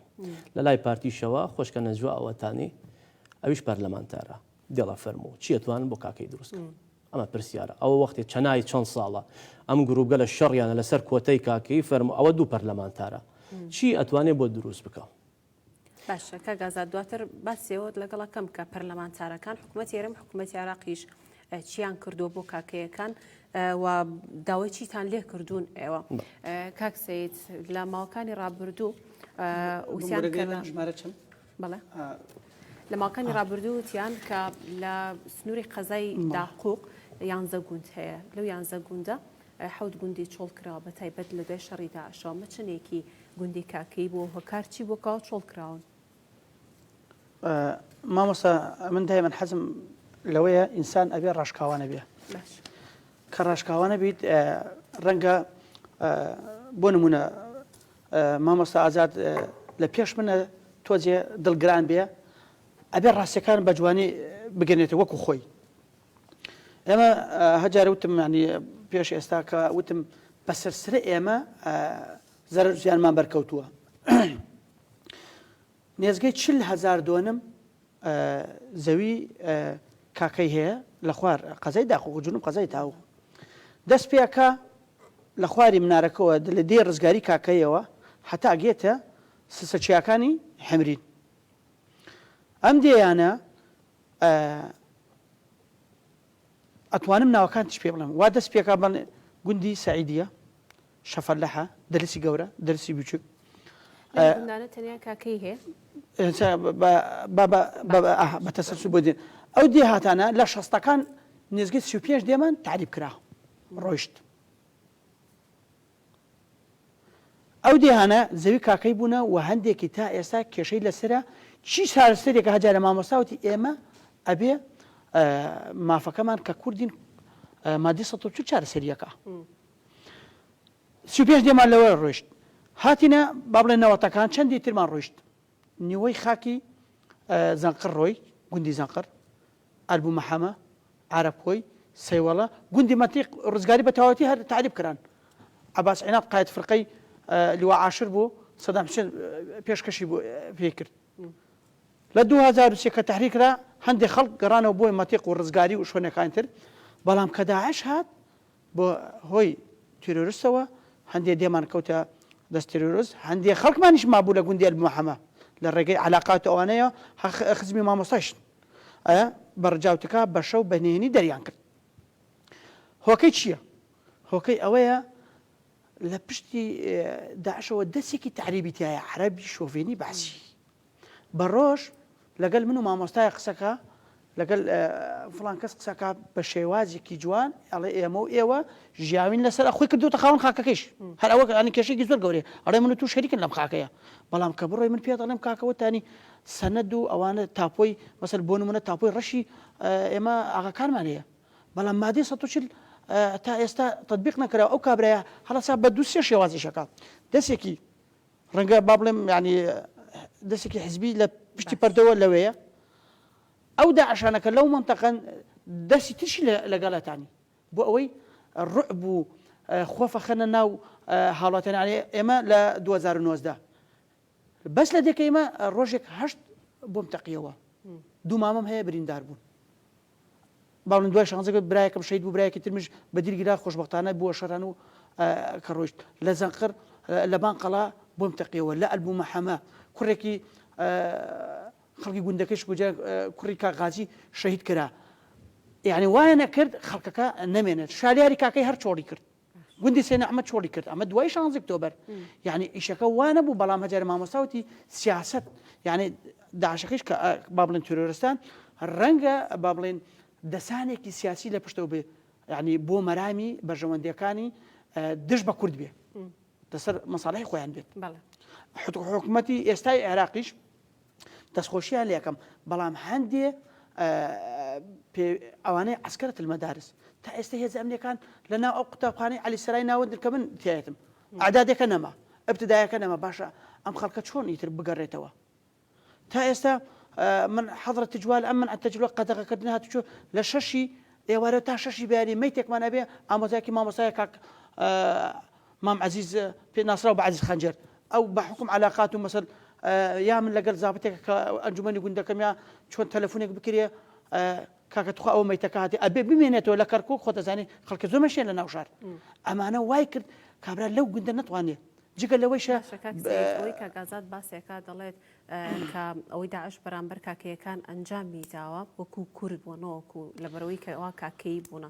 لە لای پارتیشەوە خۆشکە نەجوە ئەوەتانی ئەویش پەرلەمانتارە دڵە فەرموو چیە توانن بۆ کاکەی دروستکە ئەمە پرسیارە ئەوە وەختێ چەنای چەند ساڵە ئەم گرووپگەلە شەڕیانە لەسەر کۆتەی کاکەیی فەرموو ئەوە دوو پەرلەمانتارە چی ئەتوانێ بۆ دروست بکا. باشە کاک ئازاد دواتر باسیەوەت لەگەڵ ئەکەم کە پەرلەمانتارەکان حکوومەتی هەرێم حکوومەتی عێراقیش چیان کردووە بۆ کاکەیەکان و داوای چیتان لێ کردوون ئێوە کاک سید لە ماوەکانی ڕابردوو وسیان کردن. ژمارە چەند؟ بەڵێ لە ماوەکانی ڕابردوو وتیان کە لە سنووری قەزای داقوق یانزە گوند هەیە لەو یانزە گوندە حەوت گوندی چۆڵ کراوە بە تایبەت لە دوای شەڕی داعشەوە مەچنێکی گوندی کاکەی بۆ هۆکار چی بۆ کاوە چۆڵ کراون مامۆستا من دایمەن حەزم لەوەیە ئینسان ئەبێ ڕاشکاوانە بێ کە ڕاشکاوانە بیت ڕەنگە بۆ نمونە مامۆستا ئازاد لە پێش منە تۆ جێ دڵگران بێ ئەبێ ڕاستەکان بە جوانی بگەنێتە وەکو خۆی ئێمە هەجار وتم ینی پێش ئێستا کە وتم بە سرسرە ئێمە زەرزیانمان بەرکەوتووە نێزگەی چل هەزار دۆنم زەوی کاکەی هەیە لە خوار قەزای داخوک و جنوب قەزای تاووخ دەست پێکا لە خواری منارەکەوە لە دێی ڕزگاری کاکەیەوە هەتا ئەگێتە سسە چیاکانی حەمرین ئەم دێیانە ئەتوانم ناوەکانتیش پێ بڵێم وا دەست پێکا بەڵێ گوندی سەعیدیە شەفەلەحە درسی گەورە درسی بچوک ئە ئەندانە تەنیا کاکەی هەیە ئێستا بە بە بە بە بە ئەها بە تەسەلسول بۆ دێن ئەو دێهاتانە لە شەستەکان نێزگەی سی و پێنج دێمان تەعریب کرا ڕۆیشت ئەو دێهانە زەوی کاکەی بوونە و هەندێکی تا ئێستا کێشەی لەسرە چی چارەسەرێکە هەجا لە مامۆستاوتی ئێمە ئەبێ ئە مافەکەمان کە کوردین ئە مادی سەد و چل چارەسەرییەکە. سی و پێنج دێمان لەوێ ڕۆیشت. هاتینە با بڵێن نەوەتەکان چەندی ترمان ڕۆیشت نیوەی خاکی زەنقڕ ڕۆی گوندی زەنقڕ ئەربوو مەحەمە عرب خۆی سەیوەڵە گوندی مەتیق ڕزگاری بە تەواوەتی هەر تعریب کران عباس عینات قایت فرقەی لوا عاشر بوو سەدام حسێن پێشکەشی بۆ پێ کرد لە 2023 کە تحریکرا هەندێک خەڵک گەڕانەوە بۆی مەتیق و ڕزگاری و شوێنەکانی تر بەڵام کە داعش هات بە هۆی تیرۆرستەوە هەندێ دێمان کەوتە دەست تیرۆرست، هەندێ خەڵکمانیش مابوو لە گوندی ئەلبمەحەمە لە ڕێگەی عەلاقات ئەوانەیە هە خزمی مامۆستایش ئە بە ڕجاوتکا بە شەو بە نهێنی دەریان کرد. هۆکەی چییە؟ هۆکەی ئەوەیە لە پشتی داعشەوە دەسێکی تەعریبی تایە عەرەبی شۆڤێنی بەعسی. بە ڕۆژ لەگەل من و مامۆستای قسەکا لەگەل فڵان کەس قسەکا بە شێوازێکی جوان ئەڵێ ئێمە و ئێوە ژیاوین لەسەر ئەخۆی کردوتە خاون خاکەکەیش هەر ئەوە ئەنی کێشێکی زۆر گەورەیە ئەڵێ من و تو شەریکن لەم خاکەیە بەڵام کە بڕۆی من پێت ئەڵێم کاکەوەتانی سەند و ئەوانە تاپۆی مەسەر بۆ نمونە تاپۆی ڕەشی ئێمە ئاغاکانمان هەیە بەڵام مادەی 140 تا ئێستا تطببیق نەکرا ئەو کابراە هەڵسا بە دوسێ شێوازیشەکە دەسێکی ڕەنگە با بڵێم یانی دەسێکی حزبی لە پشتی پەردەوە لەوەیە ئەو داعشانە کە لەو منتەقەن دەسی ترشی لەگەڵەتانی بۆ ئەوەی ڕعب و خۆفەخەنە ناو هاوڵاتیانی ئێمە لە 2009دا بەس لە دێکە ئمە ڕۆژێک هەشت بۆم تەقیەوە دوو مامەم هەیە بریندار بوون بەاڵم دوای شانزە گوت برایەکم شەهید بوو برایەکی ترمش بە دیل گیرا خۆشبەختانە بووە شەران و کە ڕۆیشت لە زەنقەر لە بان قەڵا بۆم تەقیەوە لە ئەلبوومە حەمە کوڕێکی خەڵکی گوندەکەش گوجە کوڕی کاغازی شەهید کرا یعنی وایە نەکرد خەڵکەکە نەمێنێت شالیاری کاکەی هەر چۆڵی کرد گوندی سێ نەعمەت چۆڵی کرد ئەمە دوای شانزی ئۆکتۆبەر یعنی ئیشەکە وا نەبوو بەڵام هەجار مامۆستا وتی سیاست یعنی داعشەکەیش کە با بڵێن تیرۆرستان ڕەنگە با بڵێن دەسانێکی سیاسی لە پشتەوە بێ یعنی بۆ مەرامی بەرژەوەندیەکانی دژ بە کورد بێ لەسەر مەساڵحی خۆیان بێت بەڵێ حت- حکومەتی ئێستای عێراقیش دەستخۆشیان لێکەم بەڵام هەندێ ئەوانەی عسکرت المەدارس تا ئێستا هێز ئەمنیەکان لە ناو ئەو قوتابخانەی علی سرای ناوەندن کە من تایەتم ئادادەکە نەما ابتدایەکە نەما باشە ئەم خەڵکە چۆن ئیتر بگەڕێتەوە تا ئێستا من حضرە تجوال ئەم من ئەتەجلوە قەدەغەکردن هاتوچۆ لە شەشی ئێوارە تا شەشی بەیانی مەیتێکمان ئەبێ ئامۆزایکی مامۆسای کاک مام عەزیز پێ ناسراو بە عەزیز خەنجەر ئەو بە حوکم عەلاقات و مەسەل یا من لەگەل زابتێک کە ئەنجومەنی گوندەکەم یا چۆن تەلەفونێک بکرێ کاکە تخوا ئەو مەیتەکە هاتی ئەبێ بمێنێتەوە لە کەرکک خۆ دەزانانی خەڵکە زۆر مەشێن لە ناوشار ئەمانە وای کرد کابرا لەو گوندە نتوانێت جگە لەوەی شەکەی کاگازات باسێکا دەڵێت کە ئەوەی داعش بەرامبەر کاکەیەکان ئەنجامی داوە وەکو کورد بۆ نەوەکو لەبەرەوەی کەوا کاکەی بوونە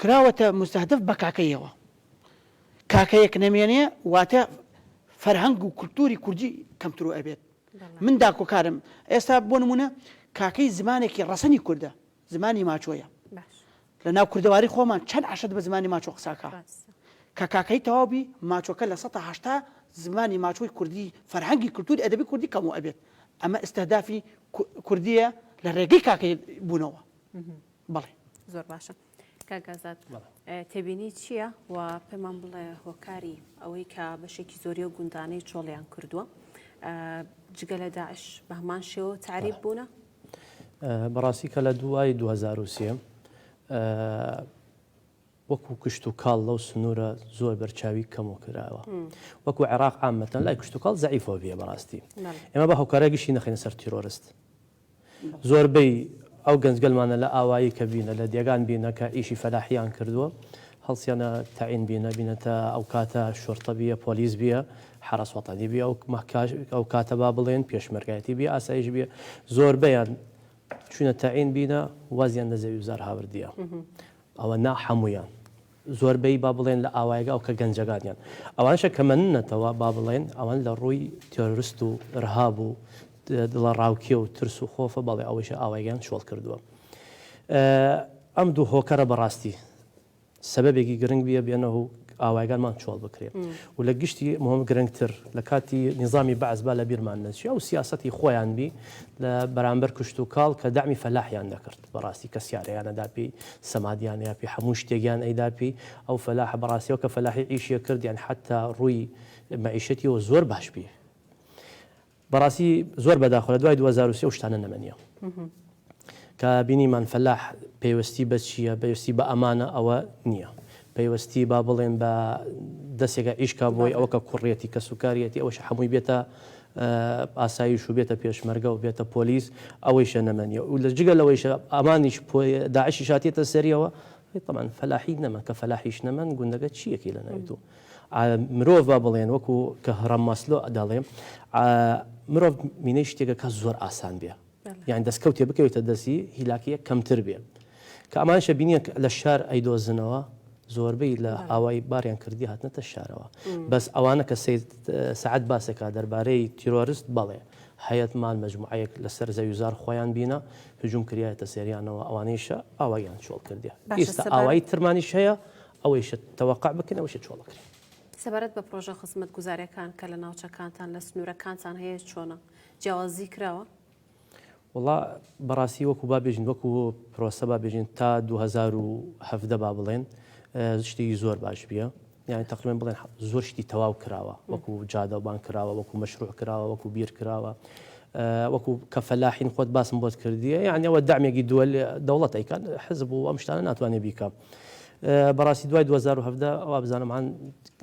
کراوەتە موستەهدەف بە کاکەییەوە. کاکەیەک نەمێنێ واتە فەرهەنگ و کولتووری کوردی کەمترو ئەبێت. من داکۆکارم. ئێستا بۆ نموونە کاکەیی زمانێکی ڕەسەنی کوردە، زمانی ماچۆیە. لە ناو کوردەواری خۆمان چەند عەشرەت بە زمانی ماچۆ قسە ئەکا. کە کاکەیی تەواو بی، ماچۆکە لە سەتا هەشتا زمانی ماچۆی کوردی فەرهەنگی کولتووری ئەدەبی کوردی کەموو ئەبێت. ئەمە ئیستهدافی کوردییە لە ڕێگەی کاکەیی بوونەوە. بەڵێ زۆر باشە کاک ئازاد تێبینی چییە و پێمان بڵێ هۆکاری ئەوەی کە بەشێکی زۆری و گوندانەی چۆڵیان کردووە جگە لە داعش بەهمان شێوە تعریب بوونە بەڕاستی کە لە دوای 2023 وەکو کشتوکاڵ لەو سنورە زۆر بەرچاوی کەمو کراوە وەکو عێراق عامەتەن لای کشتوکاڵ زەعیفەوە بیە بەڕاستی ئێمە با هۆکارە گشتی نەخەینە سەر تیرۆرست زۆربەی ئەو گەنجگەلمانە لە ئاوایی کە بینە لە دێگان بینە کە ئیشی فەلاحیان کردووە هەڵسیانە تەعین بینە بینەتە ئەو کاتە شۆرتە بیە پۆلیس بیە حرس وەتانی بیە ئەو کاتە با بڵێن پێشمەرگایەتی بی ئاسایش بیە زۆربەیان چونە تەعین بینە وازیان لە زەوی وزار هاوردیە ئەوە نا حەموویان زۆر بەی با بڵێن لە ئاوایەگە ئەو کە گەنجەگانیان ئەوانشە کە مەن نەتەوە با بڵێن ئەوان لە ڕووی تێرۆرست و رهاب و دڵە ڕاوکێ و ترس و خۆفە بەڵێ ئەوەیشە ئاوایگەیان چۆڵ کردووە ئەم دوو هۆکەرە بەڕاستی سەبەبێکی گرنگ بیە بێنە و ئاوایگانمان چۆڵ بکرێت و لە گشتی مهم گرنگتر لە کاتی نظامی بەعس با لە بیرمان نەچی ئەو سیاستی خۆیان بی لە بەرامبەر کشت و کاڵ کە دامی فەلاحیان دەکرد بەڕاستی کەس یارەیان نەدا پێی، سەمادیان نەیا پێی، هەموو شتێکیان ئەیدا پێی، ئەو فەلاحە بەڕاستی ئەو کە فەلاحی عیشیە کرد یانی حەتا ڕووی مەعیشەتیەوە زۆر باش بی بەڕاستی زۆر بەداخۆ لە دوای دوو هەزار و سێ ئەو شتانە نەمەنیە کە بینیمان فەلاح پێوەستی بە چییە پێوستی بە ئەمانە ئەوە نییە پەیوەستی با بڵێن بە دەستێکە ئیشکا بۆی ئەوە کە کوڕێتی کە سوکارەتی ئەوش هەمووی بێتە ئاسایش و بێتە پێشمەرگە و بێتە پۆلیس ئەوەیشە نەمەنیە و لە جگە لەوەیشە ئەمانیش پۆ داعشیش هاتیەتە سەریەوە طبعا فەلاحی نەمە کە فەلاحیش نەمەن گوندەکە چیەکی لە ناوی دوو مرۆڤ با بڵێن وەکو کە هەڕەم مەسلۆ دەڵێم مرۆڤ مینەی شتێکەکە زۆر ئاسان بێ یانی دەستکەوتێ بکەوێتە دەستی هیلاکیەک کەمتر بێ کە ئەمانشە بینیە لە شار ئەیدۆزنەوە زۆربەی لە ئاوای باریان کردی هاتنەتە شارەوە بەس ئەوانە کە سعات باسەکە دەربارەی تیرۆرست بەڵێ هەیەت مال مجموعەیەک لەسەر زەویزار خۆیان بینە هجوم کریایەتە سەریانەوە ئەوانەیشە ئاوایان چۆڵ کردێ ئێستا ئاوایی ترمانیش هەیە ئەوەیش تەوەقع بکەن ئەوش چۆڵ بکرێن سەبارەت بە پرۆژە خزمەت گوزارەکان کە لە ناوچەکانتان لە سنوورەکانتان هەیە چۆنە؟ جیاوازی کراوە؟ وەڵا بەڕاستی وەکو با بێژین وەکو پرۆسە با بێژین تا 2017 با بڵێن شتێکی زۆر باش بیە یعنی تقریبا بڵێن زۆر شتی تەواو کراوە وەکو جادەبان کراوە وەکو مەشروع کراوە وەکو بیر کراوە وەکو کە فەلاحین خۆت باسم بۆت کردیە یعنی ئەوە دامێکی دووە دەوڵەت ئەیکات حزب و ئەم شتانە ناتوانێت بیکە. بەڕاستی دوای 2017 ئەوە بزانمان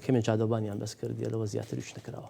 کەمێن جادەبانیان بەس کردیە لەوە زیاتر وش نکراوە.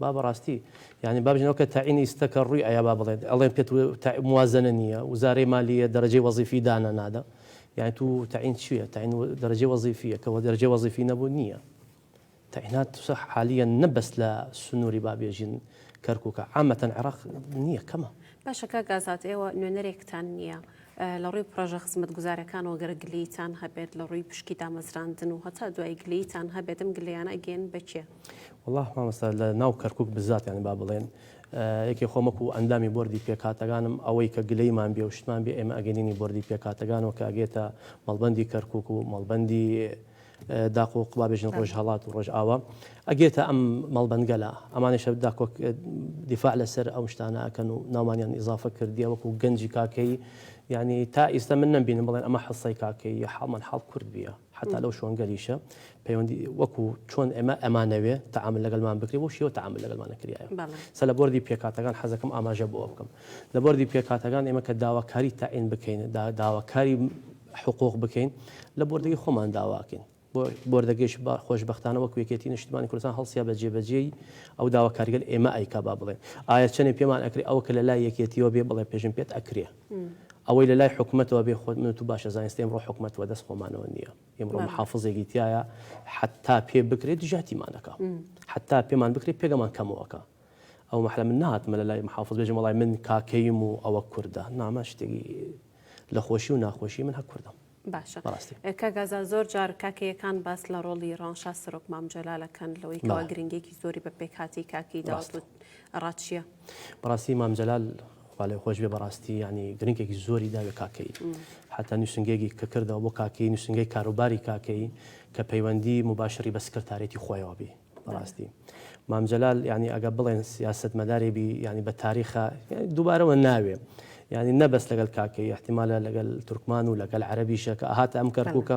با بەڕاستی یانی با بژین ئەو کە تەعینی ستە کە ڕووی ئەیا با بڵێن ئەڵێن پێت تە موازەنە نییە وزارەی مالییە دەرەجەی وەزیفی دانە نادە یانی تو تەعین چییە تەعین دەرەجەی وەزیفییە کە وە دەرەجەی وەزیفی نەبوو نییە تەعینات سە حالییەن نە بەس لە سنووری با بێژین کەرکووکە عامەتەن عێڕاق نییە کەمە. باشە کاک ئازاد ئێوە نوێنەرێکتان نییە لە ڕووی پڕۆژە خزمەتگوزارەکانەوە گەر گلەییتان هەبێت لە ڕووی پشکی دامەزراندن و هەتا دوایی گلەییتان هەبێت ئەم گلەییانە ئەگەیەنن بە کێ؟ وەڵا مامۆستا لە ناو کەرکوک بزات یانی با بڵێن یەکێ خۆم وەکو ئەندامی بۆردی پێکهاتەکانم ئەوەی کە گلەیمان بێ و شتمان بێ ئێمە ئەگەنینی بۆردی پێکهاتەکانەوە کە ئەگێتە مەڵبەندی کەرکوک و مەڵبەندی داق و قڵا بێژن ڕۆژ هەڵات و ڕۆژ ئاوا ئەگێتە ئەم مەڵبەنگەلا ئەمانە شەر داکۆک دیفاع لەسەر ئەو شتانە ئەکەن و ناومانیان ئیزافە کردیە وەکو گەنجی کاکەی یعنی تا ئیستا من نەمبینم بڵێن ئەمە حەسای کاکەی حاڵمان حاڵ کورد بیە حەتا لەو شۆنگەلیشە پەیوەندی وەکو چۆن ئێمە ئەمانەوێ تەعامل لەگەلمان بکرێ بۆ شێوە تەعامل لەگەلمانە کریایە سە لە بردی پێکاتەکان حەزەکەم ئاماژە بۆ بکەم لە بردی پێکاتەکان ئێمە کە داواکاری تاعین بکەین داواکاری حقوق بکەین لە بردەی خۆمان داواکەین بۆردەگەش با خۆشببختانە وەک وێکێتی نیشتمانی کوردستان هەڵسیا بە جێبەجێی ئەو داواکارگەل ئێمە ئەیکا با بڵێن ئایا چەنێ پێمان ئەکری ئەوە کە لە لای یەکێتیەوە بێ بڵێ پێشم پێت ئەکرێ ئەوەی لە لای حکومەتەوە بێ خۆت منو تو باشە زانستە ئمڕۆ حکومەت وە دەست خۆمانەوە نیە ئمڕۆ محافزێکی تیایە حەتا پێ بکرێ دژاتیمان دەکا حەتا پێمان بکرێ پێگەمان کەمەوە کە ئەو مەحلە من نهاتمە لە لای محافز بێژم وەڵای من کاکەیم و ئەوە کوردە نامە شتێکی لە خۆشی و ناخۆشی من هە کوردم. باشە کاک ئازاد زۆر جار کاکەیەکان باس لە ڕۆڵی ڕەوانشاد سەرۆک مام جەلال دەکەن لەوەی کەوا گرنگیەکی زۆری بە پێکهاتەی کاکەی داوەت و ڕاچییە بەڕاستی مام جەلال خوا لێ خۆش بێ بەڕاستی ینی گرنگێکی زۆری داوێ کاکەی حتا نووسنگێکی کە کردەوە بۆ کاکەی نووسنگەی کاروباری کاکەی کە پەیوەندی مباشری بە سکرتارێتی خۆیەوە بی بەڕاستی مام جەلال یانی ئەگە بڵێن سیاست مەدارێ بی یانی بە تاریخە دووبارەوە ناوێ یانی نەبەست لەگەل کاکەی احتیمالە لەگەل تورکمان و لەگەل عەربیشە کە هاتە ئەم کەرکووکە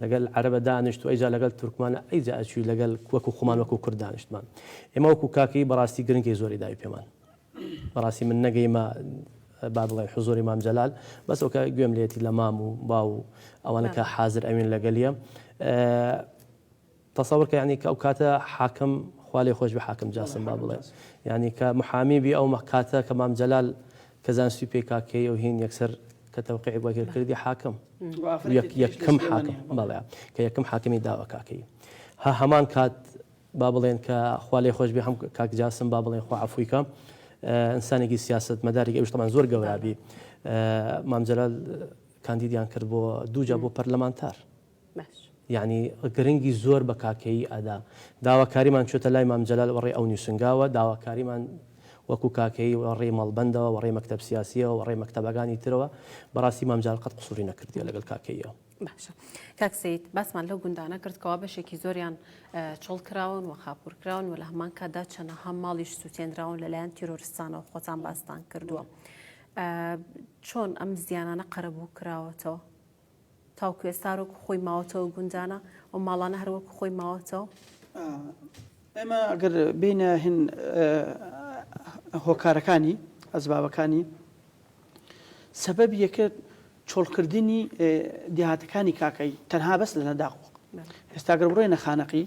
لەگەل عەربە دانیشت و ئەیجا لەگەل تورکمانە ئەیجا ئەچوی لەگەل وەکو خۆمان وەکو کورد دانیشتمان ئێمە وەکو کاکەی بەڕاستی گرنگی زۆری داوی پێمان بەڕاستی من نەگەیمە با بڵێ حزۆری مام جەلال بەسەوکە گوێم لێتی لە مام و باو و ئەوانەکە حاضر ئەوین لەگەلیە تەسەور کە یانی کە ئەو کاتە حاکم خوا لێ خۆش بێ حاکم جاسم با بڵێ یانی کە محامی بی ئەو مە کاتە کە مام جەلال کە زانستی پێ کا کێ یەو هین یەکسەر کە تەوقیعی بۆ کر کردی حاکم یەک یەک کم حاکم بەڵێ کە یەکم حاکمی داوە کا کەی هە هەمان کات با بڵێن کە خوا لێ خۆش بێ هەم کاک جاسم با بڵێن خوا عفوی کە ئینسانێکی سیاست مەدارێک ئەوش تەمان زۆر گەورابی مام جەلال کاندیدیان کرد بۆ دووجا بۆ پەرلەمانتار باش. یانی گرنگی زۆر بە کاکەیی ئەدا. داواکاریمان چۆتە لای مام جەلال وەڕێی ئەو نووسنگاوە، داواکاریمان وەکوو کاکەیی وەڕێی مەڵبەندەوە، وەڕێی مەکتەب سیاسییەوە، وەڕێی مەکتەبەکانی ترەوە، بەڕاستی مام جەلال قەت قسووری نەکردیە لەگەڵ کاکەییەوە. باشە. کاک سەید، باسمان لەو گوندانە کرد کەوا بەشێکی زۆریان چۆڵ کراون و خاپوور کراون و لە هەمان کاتدا چەنەها ماڵیش سووتێنراون لە لایەن تیرۆرستانەوە، خۆتان باستان کردووە. چۆن ئەم زیانانە قەرەبوو کراوەتەوە؟ تاوەکو ئێستا هەروەکو خۆی ماوەتەوە گوندانە و ماڵانە هەروەکو خۆی ماوەتەوە؟ ئێمە ئەگەر بینە هین هۆکارەکانی ئەزبابەکانی سەبەب یەکە چۆڵکردنی دیهاتەکانی کاکایی تەنها بەس لە نەداخ ئێستاگەر بڕێنە خانەقی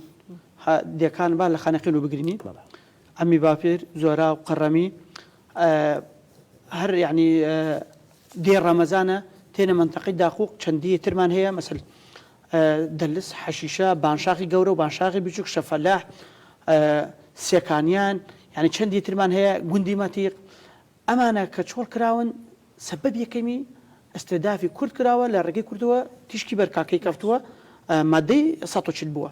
دەکان با لە خانەقی و بگرنی ئەمی باپێر زۆرا و قەڕەمی هەر یعنی دێ ڕەمەزانە تێنە مەنتەقەی داقووق چەندیی ترمان هەیە مەسەل دەلس، حەشیشە، بانشاخی گەورە و بانشاخی بچووک، شەفەلاح، سێکانیان یانی چەندیی ترمان هەیە گوندی مەتیق ئەمانە کە چۆڵ کراون سەبەب یەکەمی ئیستێدافی کورد کراوە لە ڕێگەی کوردەوە تیشکی بەر کاکەیی کەفتووە مادەی سەد و چل بووە.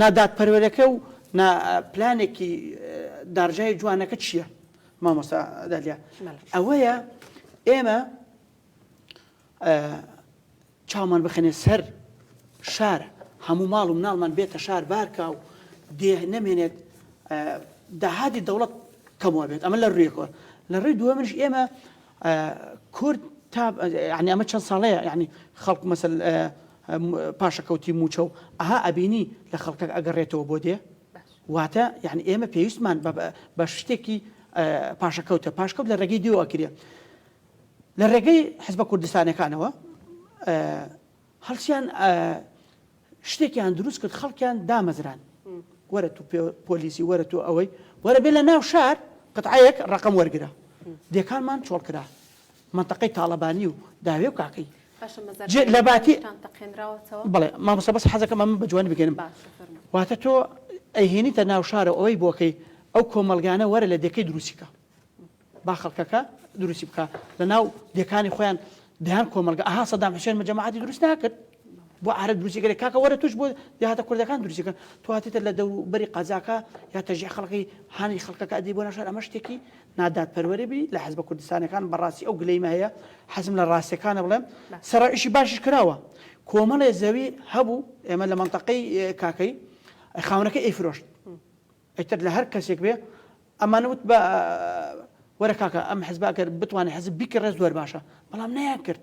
نا دادپەروەرەکە و نا پلانێکی دارژای جوانەکە چییە؟ مامۆستا دالیا ئەوەیە ئێمە چاومان بخەنێ سەر شار هەموو ماڵ و مناڵمان بێتە شار بارکە و دێ نەمێنێت داهاتی دەوڵەت کەمەوە بێت ئەمە لە ڕویەکەوە لە ڕێی دووە منش ئێمە کورد تا ینی ئەمە چەند ساڵەیە ینی خەڵک مەسل پاشەکەوتی موچە و ئەها ئەبینی لە خەڵکەک ئەگەڕێتەوە بۆ دێ واتە یانی ئێمە پێویستمان بە شتێکی پاشەکەوتە پاشکەوت لە ڕێگەی دیو ئەکرێ لە ڕێگەی حزبە کوردستانەکانەوە هەڵسیان شتێکیان دروست کرد خەڵکیان دامەزران وەرە تو پۆلیسی وەرە تو ئەوەی وەرە بێ لە ناو شار قەتعەیەک ڕقم وەرگرە دێکانمان چۆڵ کرا مەنتەقەی تاڵەبانی و داوێ و کاکەی جێ لە باتی بڵێ مامۆستا بەس حەزەکەم ئەمە بە جوانی بگەنم واتە تۆ ئەیهێنیتە ناو شارە ئەوەی بۆکەی ئەو کۆمەلگانە وەرە لە دەکەی دروستیکە با خەڵکەکە دروستی بکە لە ناو دەکانی خۆیان دەیان کۆمەلگە ئەها سەدام حسێن مەجەماعاتی دروست ناکرد بۆ عرە دروستیگەێک کاکە وەرە توش بۆ داهاتە کوردەکان دروستیکە تواتێتە لە دەوروبەری قازاکە یا تەژی خەڵکی هاانی خەڵکەکە ئەدی بۆ ناشار ئەمە شتێکی نادادپەروەری بی لە حزبە کوردستانەکان بەڕاستی ئەو گلەیمە هەیە حەزم لە ڕاستیەکانە بڵێم سەرا ئیشی باشیش کراوە کۆمەڵێ زەوی هەبوو ئێمە لە مەنتەقەی کاکەی خاونەکە ئەی فرۆشت ئەتر لە هەر کەسێک بێ ئەمان وت بە وەرە کاکە ئەم حزباکە بتوانێت حزب بیکە ڕێز زۆر باشە بەڵام نەیان کرد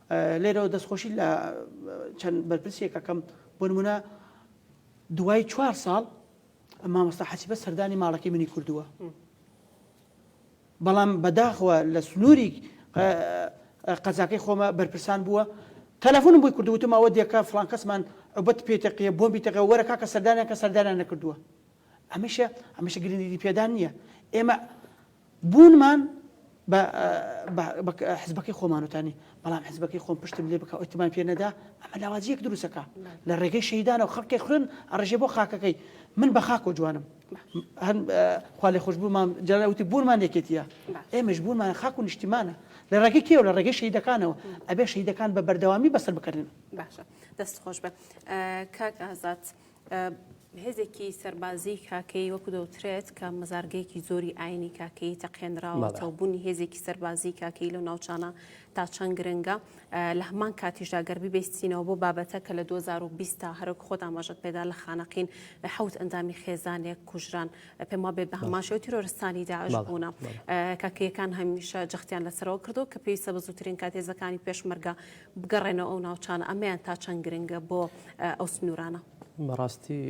لێرەوە دەستخۆشی لە چەند بەرپرسێک ئەکەم بۆ نمونە دوای چوار ساڵ مامۆستا حەسیبە سەردانی ماڵەکەی منی کردووە بەڵام بەداخەوە لە سنووری قەزاکەی خۆمە بەرپرسان بووە تەلەفۆنم بۆی کردوتم ئەوە دێکە فلانکەسمان عوبەت پێتەقیە بۆمبی تەقە وەرە کاکە سەردانیان کە سەردانیان نەکردووە ئەمەیشە ئەمەشە گرنگی پێدان نییە ئێمە بوونمان حزبەکەی خۆمانوتانی بەڵام حزبەکەی خۆم پشتم لێ بکە ئۆتمان پێ نەدا ئەمە لاوازیەک دروستەکە لە ڕێگەی شەیدانە و خەڵکی خوێن ئەڕژێ بۆ خاکەکەی من بە خاکۆ جوانم خوا لە خۆشببوومان جاوتی بوونمان یەکێتیە ئێمەش بوونمان خاک و نیشتیمانە لە ڕێگەی کێو لە ڕێگەی شەیدەکانەوە ئەبێ شەیدەکان بە بەردەوامی بەسەر بکردن باشە دەست خۆش بە کاک ئازاد. هێزێکی سەربازیی کاکەیی وەکو دەوترێت کە مەزارگەیەکی زۆری ئاینی کاکەیی تەقێنراوەتەوە بوونی هێزێکی سەربازیی کاکەیی لەو ناوچانە تا چەند گرنگە لە هەمان کاتیشدا گەربی بێستینەوە بۆ بابەتە کە لە 2020 تا هەرک خۆت ئاماژەت پێدا لە خانەقین حوت ئەندامی خێزانێک کوژران پێم وابێ بە هەماشەوە تیرۆرستانی داعش بوونە کاکەیەکان هەمیشە جەختیان لەسەرەوە کردو کە پێویستە بە زووترین کاتێزەکانی پێشمەرگە بگەڕێنەوە ئەو ناوچانە ئەمەیان تا چەند گرنگە بۆ ئەو سنوورانە؟ بەڕاستی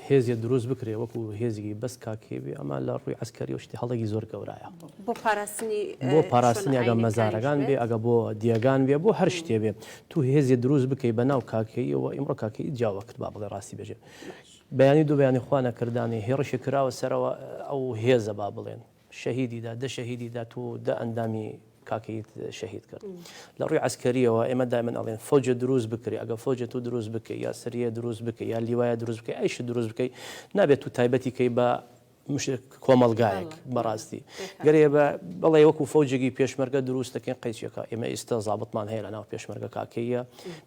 هێزیە دروست بکرێ وەکو هێزیگەی بەس کاکێبێ ئەمە لە ڕووی ئەسکەری و شتی هەڵێکی زۆر گەورایە بۆ پاراستنی بۆ پاراستنی ئەگە مەزارەکان بێ ئەگە بۆ دیێگان بێ بۆ هەر شتێ بێ تو هێزیە دروست بکەی بە ناو کاکەیەوە ئیمڕۆ کاکەی جیاوە کرد با بڵێ ڕاستی بێژێ بەیانی دوو بەیانی خوانە کردانی هێڕشی کراوە سەرەوە ئەو هێزە با بڵێن شەهیدی دا دە شەهیدی دا تۆ دە ئەندامی کاکەیت شەهید کرد لە ڕووی عسکەریەوە ئێمە دایمن ئەڵێن فەوجە دروست بکرێ ئەگە فەوجە تۆ دروست بکەی یا سریە دروست بکە یا لیوایە دروست بکەی ئەیش دروست بکەی نابێت و تایبەتی کەی بە کۆمەلگایەک بەڕاستی گەرێ بە بەڵێ وەکو فەوجێکی پێشمەرگە دروست دەکەین قەیچەکە ئێمە ئێستا زابتمان هەیە لە ناو پێشمەرگە کاکەیە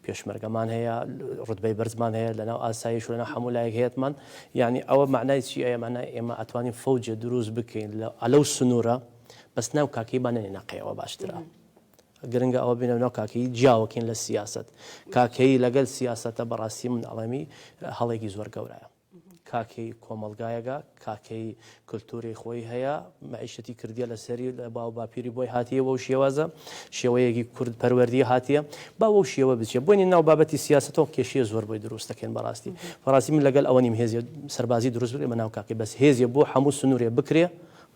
پێشمەرگەمان هەیە ڕوتبەی بەرزمان هەیە لە ناو ئاسایش لە ناو هەموو لایەک هەیەمان یانی ئەوە مەعنای چی ئەیە مەعنای ئێمە ئەتوانین فەوجێ دروست بکەین لە ئەلەو سنورە بەس ناو کاکەی با نەنێ نەقەیەوە باشترە گرنگە ئەوە بینە ناو کاکەی جیاوەکەین لە سیاست کاکەی لەگەل سیاستە بەڕاستی من ئەڵێمی هەڵێکی زۆر گەورایە کاکەی کۆمەلگایەگە کاکەی کلتوری خۆی هەیە مەعیشەتی کردیە لەسەری لە باو باپیری بۆی هاتیە بەو شێوازە شێوەیەکی کورد پەروەردی هاتیە با وەو شێوە بچێ بۆنی ناو بابەتی سیاسەتەوە کێشەیە زۆر بۆی دروستەکەن بەڕاستی بەڕاستی من لەگەل ئەوە نیم هێزی سەربازی دروست بێ بەناو کاکی بەس هێزیە بۆ هەموو سنورێ بکرێ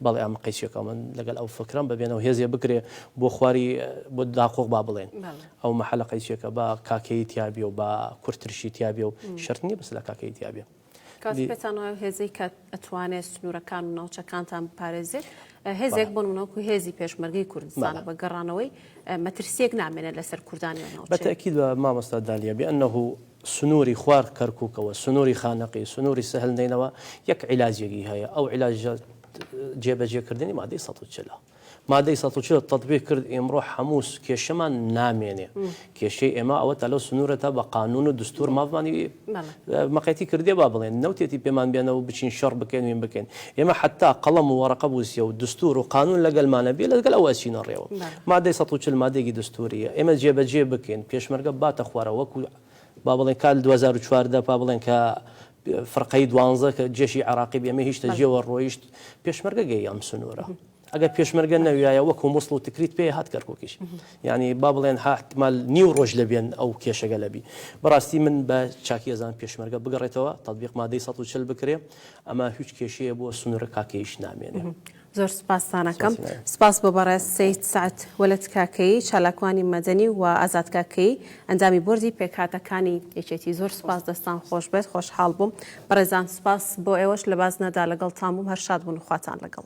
بەڵێ ئەم قەیچێکەوە من لەگەل ئەو فکرم ببێنەوە هێزێ بکرێ بۆ خواری بۆ داقۆق با بڵێن ئەو مەحلە قەیچێکە با کاکەیی تیابێ و با کورتترشی تیابێ و شەرت نیە بەس لە کاکەیی تیابێ کاتێک پێتان وایە هێزی کە ئەتوانێت سنوورەکان و ناوچەکانتان بپارێزێت هێزێک بۆ منەوەکو هێزی پێشمەرگی کوردستانە بە گەڕانەوەی مەترسیەک نامێنێت لەسەر کوردانی بەتەکی لە مامۆستا دالیە بێ ئەنه سنووری خوار کەرککەوە سنووری خانەقی سنووری سەهل نینەوە یەک عیلاجێکی هەیە ئەو عیلاژە جێبەجێکردنی مادەی سە چلا. مادەی سەد و چل تەتبیق کرد ئیمڕۆ هەموو کێشەمان نامێنێ کێشەی ئێمە ئەوە تا لەو سنوورە تا بە قانون و دستور مافمانی مەقەتی کردێ با بڵێن نەوتێتی پێمان بێنەوە بچین شەڕ بکەین وین بکەین ئێمە حتا قەڵەم و وەڕقە بووسیە و دستور و قانون لەگەلمانە بێ لەگەل ئەو ئەچینە ڕێوە مادەی سەد و چل مادێکی دستوریە ئێمە جێبەجێ بکەین پێشمەرگە باتە خوارە وەکو با بڵێن کال 2014 با بڵێن کە فرقەی دوانزە کە جێشی عراقی بێمە هیشتە جێوە ڕۆیشت پێشمەرگە گەی ئەم سنوورە ئەگەر پێشمەرگە نەویایە وەکو مسڵ و تکریت پێ هات کەرکۆکیش ینی با بڵێن هاتمال نیو ڕۆژ لە بێن ئەو کێشەگە لەبی بەڕاستی من بە چاکی ئەزان پێشمەرگە بگەڕێتەوە تطببیق مادەی 140 بکرێ ئەمە هیچ کێشەیە بۆ سنوورە کاکەیش نامێنێ زۆر سوپاستان ئەکەم. سوپاس بۆ بەڕێز سەید سەعد وەلەد کاکەیی، چالاکوانی مەدەنی و ئازاد کاکەیی، ئەندامی بۆردی پێکهاتەکانی یەکێتی. زۆر سوپاس دەستان خۆش بێت، خۆشحاڵ بووم. بەڕێزان سوپاس بۆ ئێوەش لە بازنەدا لەگەڵتان بووم، هەر شاد بوون و خواتان لەگەڵ.